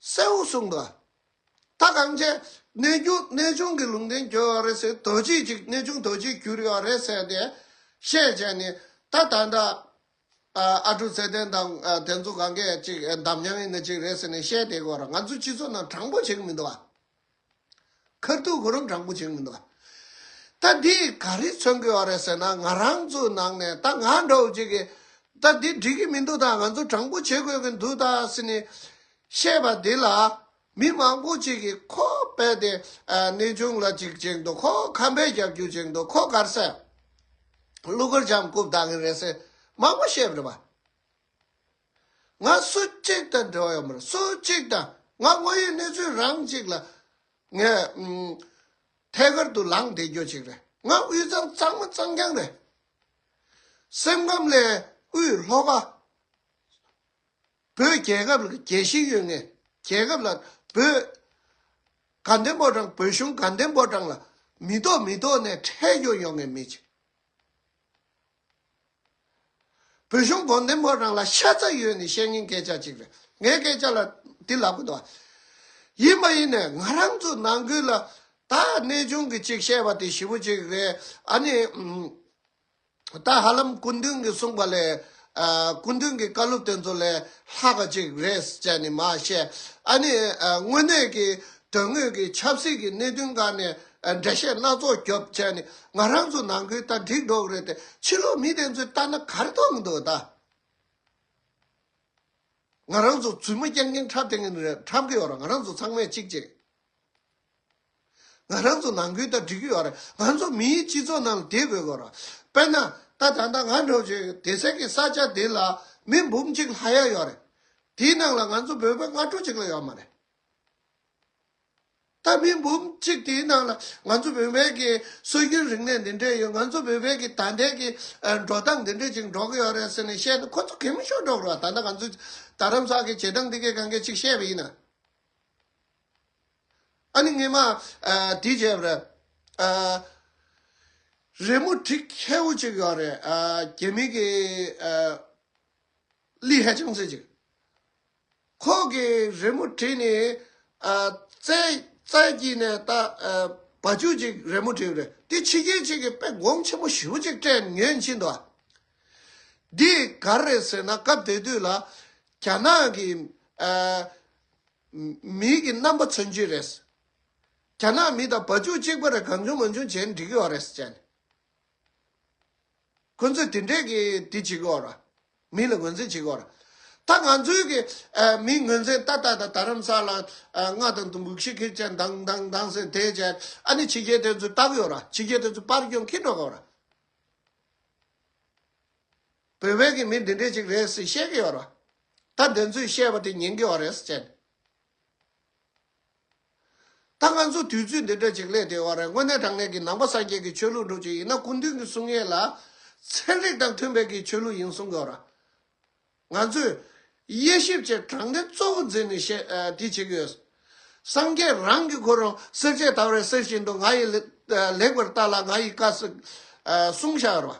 གསལ་བོ་གསུངས་པ། ད་གངས་ཅན་གནས་ཆུང་གནས་ཆུང་གི་ལུང་བསྟན་གྱོད་རེད་ཟེར་དོ་ཅི་ཅིག་གནས་ཆུང་དོ་ཅིག་གྱུར་ཡོད་རེད་ཟེར་ཏེ་བཤད་བྱས་ནས་ད་ད་ད། ཨ་ཕྲུག་ཚེ་བརྟན་དང་དེ་ཚོ་ག་གེ་ཅིག་འདམ་བྱང་གི་ནི་ཅིག་རེད་ཟེར་ནས་བཤད་དེ་གོ་ར་ང་ཚོའི་སྤྱི་ཚོགས་ནང་དྲང་པོ་བྱེད་གི་མི་འདུག་ཨ། ཁར་ཐུག་གོ་རུམ་དྲང་པོ་བྱེད་གི་མི་འདུག་ཨ། ད་འདིས་ག་རེ་མཚོན་དགོས་བ་རེད་ཟེར་ན་ང་རང་ཚོའི་ནང་ནས་ད་ང་འདྲ་བོ་ཅིག་གིས་ད་འདི་འགྲིག་གི་མི་འདུག་ད་ང་ཚོ་དྲང་པོ་བྱེད་དགོས་གི་འདུག་ད་ཟེར་ནས་བཤད་པ་འདི་ལ་མི་མང་པོ་ཅིག་གིས་ཁོ་རྦད་དེ་གནས་ཆུང་ལ་འཇིགས་ཀྱིན་འདུག་ཁོ་ཁམས་པའི་རྒྱབ་རྒྱུག་ཅིག་འདུག་ཁོ་གར་སའི་གླུ་གར་འཇམ་རྐུབ་ལྡག་གིན་རེད་ཟེར་མང་པོ་བཤད་རེད་པ། ང་སུ་གཅིག་དང་འབྲེལ་བ་ཡོད་མི་རུང་སུ་གཅིག་དང་ང་དངོས་ཡོད་གནས་ཚུལ་རང་གཅིག་ལ་ངས་ཐད་ཀར་དུ་ལངས་བསྡད་རྒྱུ་ཅིག་རེད་ང་དབུས་གཙང་གཙང་མ་གཙང་རྐྱང་རེད་སེམས་ཁམས་ལས་དབུས་ལྷོ་ཁ། བོད་རྒྱལ་ཁབ་ལ་རྒྱལ་ཞེན་ཡོད་ངེས་རྒྱལ་ཁབ་ལ་བོད་དགའ་ལྡན་པོ་དང་བོད་གཞུང་དགའ་ལྡན་པོ་དང་ལ་མི་རྟོག་མི་རྟོག་ནས་ཁྲལ་གཡོག་ཡོང་ངེས་མི་བྱེད། བོད་གཞུང་དགོ་ལྡན་པོ་དང་ལ་ཤ་ཚ་ཡོད་ནས་བཤད་ངེས་སྐད་ཆ་ཅིག་རེད་ངའི་སྐད་ཆ་ལ་འདི་ལག་པ་འདུག་ཡིན་མ་ཡིན་ནས་ང་རང་ཚོ་ནང་ཁུལ་ལ་ད་གནས་ཆུང་གི་ཅིག་བཤད་པ་དེ་ཞི་བོ་ཅིག་རེད་ཨ་ནི། ད་ཧ་ལམ་སྐུ་མདུན་གྱིས་གསུངས་པ་ལས། སྐུ་མདུན་གྱི་བཀའ་སློབ་དེ་ཚོ་ལས་ལྷག་པ་ཅིག་རེད་བཅས་ནི་མ་བཤད། ཨ་ནི། དངོས་གནས་ཀྱི་དོན་དངོས་ཀྱི་ཆབ་སྲིད་ཀྱི་གནད་དོན་འགའ་ནས་འགྲེལ་བཤད་སྣ་ཚོགས་རྒྱོབ་བཅས་ནི་ང་རང་ཚོ་ནང་ཁུལ་ལྟ་འགྲིག་འགྲོག་རེད་དེ་ཕྱི་ལོག་མི་དེ་ཚོས་ལྟ་ན་གར་ཐུག་འདུག་ད། ང་རང་ཚོ་བཙུན་མོ་སྐྱེ་མཁན་འཁྲབ་དེ་ངན་འཁྲབ་གི་ཡོད་ར་ང་རང་ཚོ་ཚང་མས་གཅིག་གཅིག། ང་རང་ཚོ་ནང་ཁུལ་ལྟར་སྒྲིག་གི་ཡོད་རེད་ང་ཚོ་མིའི་སྤྱི་ཚོགས་ནང་ལ་དེ་དགོས་གི་རེད། དཔེར་ན། ད་ད་ལྟ་ང་འགྲོ་བྱུང་སྡེ་སྲིད་ཀྱི་ས་ཆ་འདི་ལ་མི་འབུམ་གཅིག་ལྷག་ཡ་ཡོད་རེད། དེའི་ནང་ལ་ང་ཚོ་བོད་པ་ལྔ་དྲུག་ཅིག་ལ་ཡོད་མ་རེད། ད་མི་འབུམ་གཅིག་དེའི་ནང་ལ་ང་ཚོ་བོད་པའི་གི་སྲོལ་རྒྱུན་རིག་གནས་འདི་འདྲས་ཡོད་ང་ཚོ་བོད་པའི་གི་ད་ལྟའི་གི་འགྲོ་སྟངས་འདི་འདྲས་ཅིག་འགྲོ་གི་ཡོད་རེད་ཟེར་ནས་བཤད་ན་ཁོ་ཚོ་གད་མོ་ཤོར་འགྲོ་གི་རེད་ད་ལྟ་ང་ཚོས་རྡ་རམ་ས་གི་བྱེད་སྟངས་འདི་གས་གང་གས་ཅིག་བཤད་པ་ཡིན་ན། ཨ་ནི་ངེད་མ། དེའི་རྗེས་རེད། རེས་མོ་བྲིས་ཁྱེའུ་གཅིག་ཡོད་རེད། རྒྱལ་མི་གི། ལི་ཧེ་ཅང་ཚེ་གཅིག། ཁོ་གི་རེས་མོ་བྲིས་ནི། རྩེ། རྩེ་གཅིག་ནས་ད། བ་ཅུ་གཅིག་རེས་མོ་བྲིས་རེད། དེ་ཕྱི་རྒྱལ་གཅིག་གི་དཔེ་དགོངས་ཆེན་མོ་བཞི་བོ་གཅིག་སྤྲད་ཉོན་ཅི་འདུག་ཨ། འདི་ག་རེད་ཟེར་ན་སྐབས་དེ་དུས་ལ། རྒྱ་ནག་གི། མིག་གི་རྣམ་པ་མཚོན་རྒྱུ་རེད། རྒྱ་ནག་མི་དང་བ་ཅུང་གཅིག་པ་རེ་གང་བྱུང་མ་བྱུང་བྱས་ན་འགྲིག་གི་འོ་རེད་ཅེས། ཁོ་ཚོས་དེ་འདྲས་ཀྱི་དེ་བྱེད་གི་འོ་ར། མི་ལ་ངོས་འཛིན་བྱེད་གི་འོ་ར། ད་ང་ཚོའི་གི་མིའི་ངོས་འཛིན་ཏག་ཏག་དང་དར་རམ་ས་ལ་རྔ་དང་དུམ་བུ་ཁྱིར་ཁྱིར་ཅན་དང་དང་དང་ཟེར་དེ་བྱས་ཨ་ནི་ཕྱི་རྒྱལ་དེ་ཚོས་ལྟ་གི་འོ་ར་ཕྱི་རྒྱལ་དེ་ཚོས་པར་སྐྱོང་གི་འགྲོ་གི་འོ་ར། བོད་བོད་ཀྱི་མི་འདི་འདྲས་ཅིག་རེད་ཟེར་ཤེས་ཀྱི་ཡོད་རེད། ད་དེ་ཚོས་བཤད་པ་དེ་ཉན་གྱི་ཡོད་རེད་ཟེར། ད་ང་ཚོ་དུས་ཚོད་འདི་འདྲ་ཅིག་སླེབས་དེ་ཡོད་རེད་དངོས་གནས་དྲང་གནས་ཀྱི་ནང་པ་སངས་རྒྱས་ཀྱི་ཆོས་ལུགས་འགྲོ་ཅིག་ཡིན་ན་སྐུ་མདུན་གྱི་གསུང་ཡན་ལག་ཚན་རིག་དང་མཐུན་པའི་གྱི་ཆོས་ལུགས་ཡིན་གསུང་གི་ཡོད་རེད། ང་ཚོས་དབྱེ་ཞིབ་བྱས་དྲང་གནས་གཙོ་བོ་འཛིན་ནས་བཤད་དེ་བྱེད་ཀྱི་ཡོད། སངས་རྒྱས་རང་གིས་ཁོ་རང་སེར་བྱེས་ལྟ་བུ་རེད་ཟེར་བཞིན་དུ་ང་ཡིས་ལེགས་པར་བལྟ་ལ་ང་ཡིས་དཀའ་ཟེར་གསུང་བཞག་ཡོད་རེད།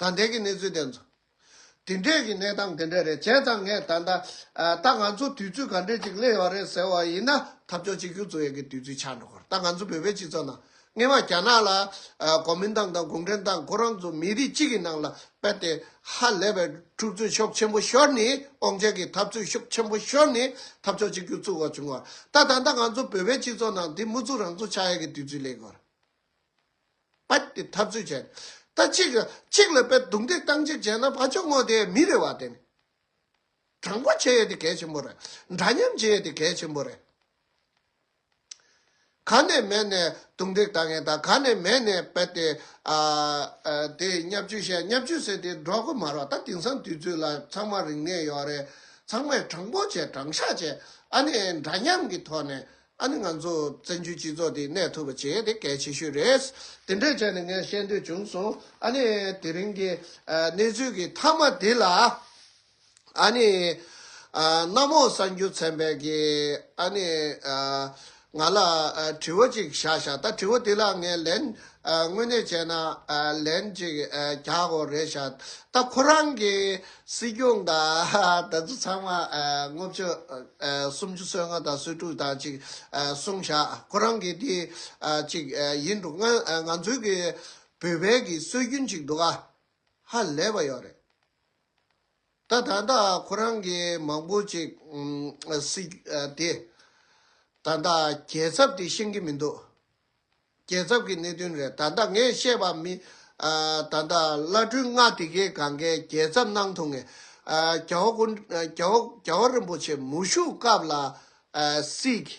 ད་ལྟའི་གི་གནས་ཚུལ་དེ་ཚོ། དེ་འདྲས་ཀྱི་གནས་སྟངས་དེ་འདྲས་རེད་བྱས་ཙང་ངས་ད་ལྟ། ད་ང་ཚོ་དུས་ཚོད་ག་འདྲས་ཅིག་སླེབས་ཡོད་རེད་ཟེར་བ་ཡིན་ན་ཐབས་སྐྱོ་གཅིག་ཁྱོད་ཚོ་ཡག་གི་དུས་ཚོད་ཆགས་འགྲོ་གི་རེད་ད་ང་ཚོ་བོད་པའི་སྤྱི་ཚོགས་ནང་སྔན་མ་རྒྱ་ནག་ལ། གོ་མིན་ཏང་དང་གུང་ཁྲན་ཏང་ཁོ་རང་ཚོ་མི་རིགས་གཅིག་གི་ནང་ལ་སྤེལ་ཏེ། ཧ་ལས་པའི་འཁྲུག་རྩོད་ཤོག་ཆེན་པོ་ཤོར་ནས་ཨོང་ཆད་ཀྱི་འཐབ་རྩོད་ཤོག་ཆེན་པོ་ཤོར་ནས་ཐབས་སྐྱོ་གཅིག་ཁྱོད་ཚོ་བ་བྱུང་བ་རེད་ད་ད་ལྟ་ང་ཚོ་བོད་པའི་སྤྱི་ཚོགས་ནང་དེ་མུ་ཚུགས་རང་ཚོ་ཆགས་ཡག་གི་དུས་ཚོད་སླེབས་ཡོད་རེད། པ་དེ་འཐབ་རྩོད་བྱས། ད་གཅིག་གཅིག་ལ་པད་རྡུང་སྟེ་སྟངས་གཅིག་བྱས་ན་ཕ་ཅོག་སྔོ་དེ་མི་རེ་བ་དེ་ནི། དྲང་པོ་བྱེད་ཡས་དེ་གལ་ཆེན་པོ་རེད། འདྲ་མཉམ་བྱེད་ཡས་དེ་གལ་ཆེན་པོ་རེད། ག་ནས་མེད་ནས་རྡུང་རྡེག་བཏང་ཡས་དང་ག་ནས་མེད་ནས་པད་དེ་དེ་གཉའ་བཅུ་བཤད་གཉའ་བཅུ་ཟེར་དེ་འགྲོ་གོ་མ་རོག་ད་དེང་སང་དུས་ཚོད་ལ་ཚང་མ་རིག་གནས་ཡོད་རེད། ཚང་མས་དྲང་པོ་བྱས་དྲང་བཞག་བྱས་ཨ་ནི་འདྲ་མཉམ་གི་ཐོག་ནས་ཨ་ནི་ང་ཚོ་བཙན་བྱོལ་སྤྱི་ཚོགས་འདི་གནས་ཐུབ་པ་བྱེད་དེ་གལ་ཆེ་ཤོས་རེད། དེ་འདྲ་བྱས་ནས་ངས་བཤད་འདོད་བྱུང་སོང། ཨ་ནི་དེ་རིང་གི་གནས་ཚུལ་གྱི་མཐའ་མ་འདི་ལ། ཨ་ནི། གནམ་འོག་གསར་འགྱུར་ཚན་པས་ཀྱི་ཨ་ནི། ང་ལ་དྲི་བ་ཅིག་བཞག་བཞག་ད་དྲི་བ་འདི་ལ་ངས་ལན། དངོས་གནས་བྱས་ན་ལན་ཅིག་རྒྱག་དགོས་རེད་བཞག་ད་ཁོ་རང་གི་སྲིད་སྐྱོང་དང་དེ་ཚོ་ཚང་མ་དངོས་བཅོས་སུམ་ཅུ་སོ་ལྔ་དང་སོ་དྲུག་དང་གཅིག་གསུངས་བཞག་ཁོ་རང་གི་དེ་གཅིག་ཡིན་འདུག་ང་ཚོའི་གི་བོད་བལ་གི་སྲོལ་རྒྱུན་གཅིག་འདུག་ཨ་ཧ་ལས་པ་ཡོད་རེད་ད་ད་ད་ཁོ་རང་གི་མང་པོ་གཅིག་སྲིད་དེ་ད་ད་རྒྱལ་ཚབ་དེ་ཤེས་གི་མི་འདུག། རྒྱལ་ཚབ་ཀྱི་གནད་དོན་རེད་ད་ལྟ་ངས་བཤད་པ་མིན། ད་ལྟ་བླ་སྤྲུལ་ལྔ་དེ་གའི་གང་གཱའི་རྒྱལ་ཚབ་གནང་ཐུབ་ངེས། རྒྱ་བོ་དགོན། རྒྱ་བོ་རྒྱ་བོ་རིན་པོ་ཆེ་མུ་བཞུགས་སྐབས་ལ། སྲིད།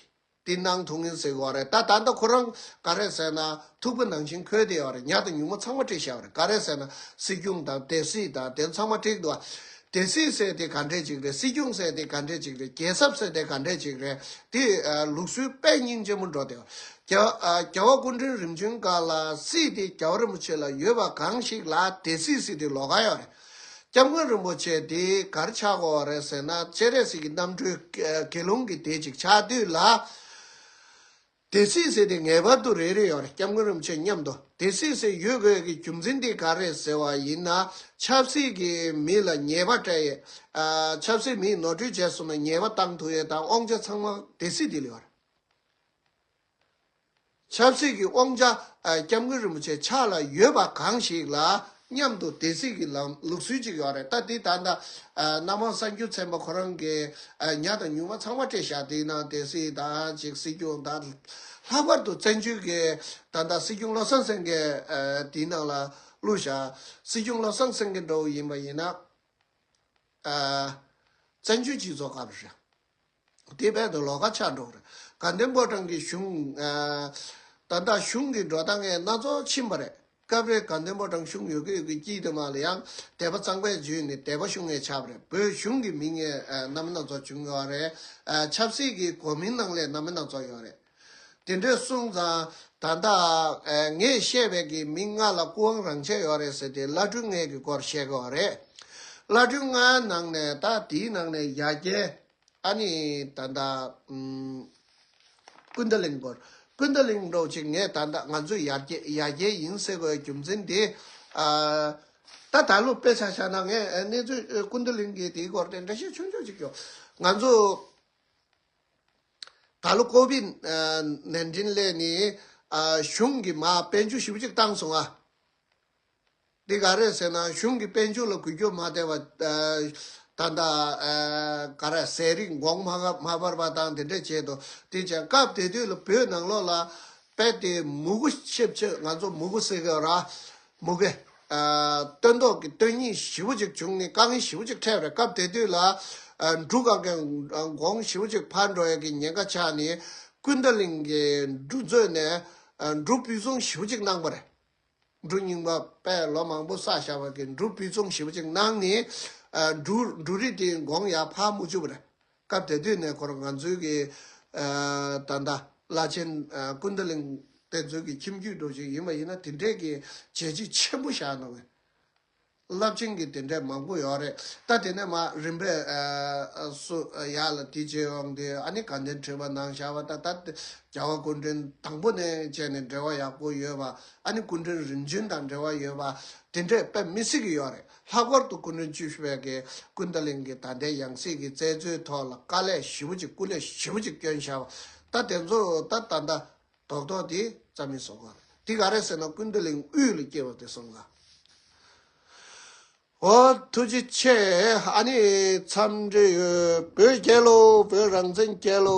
དེ་གནང་ཐུབ་ངེས་ཟེར་གི་རེད་ད་ད་ལྟ་ཁོ་རང་ག་རེ་ཟེར་ན་ཐུག་པ་ནང་བཞིན་འཁོད་དེ་ཡོད་རེད་ཉག་དང་ཉུག་མ་ཚང་མ་བྲིས་བཞག་རེད་ག་རེ་ཟེར་ན་སྲིད་སྐྱོང་དང་དེ་སྲིད་དང་དེ་ཚང་མ་བྲིས་འདུག་སྡེ་སྲིད་ཟེར་དེ་ག་འདྲས་ཅིག་རེད་སྲིད་སྐྱོང་ཟེར་དེ་ག་འདྲས་ཅིག་རེད་རྒྱལ་ཚབ་ཟེར་དེ་ག་འདྲས་ཅིག་རེད་དེ་ལུགས་སྲོལ་དཔེ་རྙིང་ཆེན་མོ་འགྲོ་དེ། རྒྱལ་བ་སྐུ་མགྲོན་རིམ་བྱོན་འགའ་ལ་སྲིད་དེ་རྒྱལ་བ་རིན་པོ་ཆེ་ལ་ཡོད་པ་གང་ཞིག་ལ་དེ་སྲིད་སྲིད་དེ་ལོ་ག་ཡོད་རེད། སྐྱབས་མགོན་རིན་པོ་ཆེ་དེ་གར་ཆགས་དགོས་བ་རེད་ཟེར་ན་སྤྱན་རས་གཟིགས་ཀྱི་རྣམ་གྲོལ་དགེ་སློང་གི་དེ་ཅིག་ཆགས་དུས་ལ། དེ་སྲིད་ཟེར་དེ་ངེས་པར་དུ་རེད་རེད་ཡོད་རེད་སྐྱབས་མགོན་རིན་པོ་ཆེ་མཉམ་དུ་དེ་སྲིད་ཟེར་ཡོད་དགོས་ཡོད་གི་རྒྱུ་མཚན་དེ་ག་རེད་ཟེར་བ་ཡིན་ན་ཆབ་སྲིད་ཀྱི་མི་ལ་ཉེས་པ་སྤྲད་ཡོད། ཆབ་སྲིད་མིས་ནོར་འཁྲུལ་བྱས་སོང་ན་ཉེས་པ་བཏང་ཐུག་ཡོད་དང་དབང་ཆ་ཚང་མ་དེ་སྲིད་དེ་ལ་ཡོད་རེད། ཆབ་སྲིད་ཀྱི་དབང་ཆ་སྐྱབས་མགོན་རིན་པོ་ཆེ་ཕྱག་ལ་ཡོད་པ་གང་ཞིག་ལ་མཉམ་དུ་དེ་སྲིད་ཀྱི་ལམ་ལུགས་སྲོལ་ཅིག་ཡོད་རེད་ད་དེ་ད་ལྟ་སྣ་མང་གསར་འགྱུར་ཚན་པ་ཁོ་རང་གི་ཉག་དང་ཉུང་མ་ཚང་མ་སྤྲད་བཞག་དེའི་ནང་དེ་སྲིད་ད་ཅིག་སྲིད་སྐྱོང་ད་ལྷག་པར་དུ་བཙན་བྱོལ་གྱི་ད་ལྟ་སྲིད་སྐྱོང་བློ་བཟང་སེང་གེ་དེའི་ནང་ལ་བླུགས་བཞག་སྲིད་སྐྱོང་བློ་བཟང་སེང་གེ་འདྲ་བོ་ཡིན་པ་ཡིན་ན་བཙན་བྱོལ་སྤྱི་ཚོགས་སྐབས་རེ། དེའི་ཕན་དུ་ལོ་ཀ་ཆག་འགྲོ་རེད། དགའ་ལྡན་པོ་ཀྲང་གིས་གཞུང། ད་ལྟ་གཞུང་གི་འགྲོ་སྟངས་སྣ་ཚོགས་ཕྱིན་པ་རེད། སྐབས་རེ་དགའ་ལྡན་པོ་ཀྲང་གཞུང་ཡོད་གི་ཡོད་གི་སྐྱིད་དུ་མ་ལ་ཡང་དད་པ་གཙང་པས་འཇུས་ནས་དད་པ་ཤུགས་ངེས་ཆགས་པ་རེད་བོད་གཞུང་གི་མི་ངན་རྣམ་སྣ་ཚོགས་བྱུང་ཡོད་རེད། ཆབ་སྲིད་ཀྱི་གོ་མིང་ནང་ལས་རྣམ་སྣ་ཚོགས་ཡོད་རེད། དེ་འདྲའི་གསུང་ཙང་ད་ལྟ་ངས་བཤད་པའི་གི་མིང་ལྔ་ལ་སྐུ་དབང་རང་ཆས་ཡོད་རེད་ཟེར་དེ་བླ་སྤྲུལ་ལྔའི་གི་སྐོར་བཤད་གི་བ་རེད། བླ་སྤྲུལ་ལྔའི་ནང་ནས་ད་དེའི་ནང་ནས་ཡ་རྒྱལ། ཨ་ནི་ད་ལྟ། ཀུན་ད་ལིང་པོར། ཀུན་ད་ལིང་འགྲོ་ཅིག་ངས་ད་ལྟ་ང་ཚོས་ཡ་རྒྱལ་ཡ་རྒྱལ་ཡིན་ཟེར་གི་རྒྱུ་མཚན་དེ། ད་ད་ལོ་དཔེ་ཆ་ཆགས་ན་ངས་གནས་ཚུལ་ཀུན་ད་ལིང་གི་དེའི་སྐོར་དེ་འདྲ་བཤད་ཆོག་ཆོག་ཅིག་ཡོད། ང་ཚོ། ད་ལོ་ཀོ་བི་ནན་ཏིན་སླད་ནི་གཞུང་གི་མ་དཔལ་འབྱོར་ཞིབ་གཅིག་བཏང་སོང་ཨ། འདི་ག་རེད་ཟེར་ན་གཞུང་གི་དཔལ་འབྱོར་ལ་གུས་སྐྱོ་མ་བདེ་བ། ད་ལྟ་ག་ར་ཟས་རིགས་འགོག་མ་སྤར་བ་དང་དེ་འདྲ་བྱས་འདུག་དེ་བྱས་སྐབས་དེ་དུས་ལ་བོད་ནང་ལོགས་ལ་དཔལ་དེ་མུ་གུ་ཆིབས་ཆིབས་ང་ཚོ་མུ་གུ་སེ་གེ་ར་མུ་གེ། སྟོན་ཐོག་གི་སྟོན་སྙིང་བཞི་བོ་ཅིག་བྱུང་ནས་དཀའ་ངལ་བཞི་བོ་ཅིག་འཕྲད་པའི་སྐབས་དེ་དུས་ལ། འབྲུག་ག་གེ་འགོང་བཞི་བོ་ཅིག་ཕར་འགྲོ་ཡས་ཀྱི་ཉེན་ཁ་ཆགས་ནས། ཀུན་ད་ལིང་གི་འབྲུག་མཛོད་ནས། འབྲུག་སྤུས་རྫོང་བཞི་བོ་ཅིག་གནང་བ་རེད། འབྲུག་རྙིང་པ་པས་ལོ་མང་པོ་བསགས་བཞག་པ་གིས་འབྲུག་སྤུས་རྫོང་བཞི་བོ་ཅིག་གནང་ནས། འབྲུག་རི་དེའི་འགོང་ཡག་ཕར་མུ་ཅུ་བ་རེད། སྐབས་དེ་དུས་གནས་སྐོར་ང་ཚོའི་གི་ད་ལྟ་བླ་ཆེན་ཀུན་ད་གླིང་དེ་ཚོའི་གི་ཁྱིམ་རྒྱུད་འགྲོ་བྱེད་ཡིན་པ་ཡིན་ན་དེ་འདྲའི་གི་བྱས་རྗེས་ཆེན་པོ་བཞག་འདུག་རླབས་ཆེན་གི་དེ་འདྲའི་མང་པོ་ཡོད་རེད་ད་དེ་ནས་མ་རིན་པས་སུ་ཡ་ལ་དེ་བྱས་ཡོང་དེ་ཨ་ནི་དགའ་ལྡན་ཁྲི་པ་ནང་བཞག་པ་ད་ད་རྒྱལ་བ་སྐུ་མགྲོན་དང་པོ་ནས་བྱས་ནས་འབྲེལ་བ་ཡག་པོ་ཡོད་པ་ཨ་ནི་སྐུ་མགྲོན་རིམ་བྱོན་དང་འབྲེལ་བ་ཡོད་པ་དེ་འདྲས་དཔེ་མི་སྲིད་གི་ཡོད་རེད། ལྷག་པར་དུ་སྐུ་མགྲོན་བཅུ་བཞི་པའི་གེ་ཀུན་ད་ལིང་གི་ད་ལྟའི་ཡང་སྲིད་ཀྱི་བཙལ་འཚོལ་ཐོག་ལ་དཀའ་ལས་ཞིབ་པོ་ཅིག་སྐུ་ལས་ཞིབ་པོ་ཅིག་བསྐྱོན་བཞག་པ་ད་དེ་ཚོ་ད་ལྟ་འདའ་དོག་དོག་དེ་རྩ་མི་བཟོ་གོ། དེ་ག་རེ་ཟེར་ན་སྐུ་ད་ལིང་དབུས་ལ་སྐྱེས་པ་དེ་སོང་ག། ཨོ་ཐུགས་རྗེ་ཆེ་ཨ་ནི་འཚམས་འདྲི་ཡོད་བོད་རྒྱལ་ལོ་བོད་རང་བཙན་རྒྱལ་ལོ།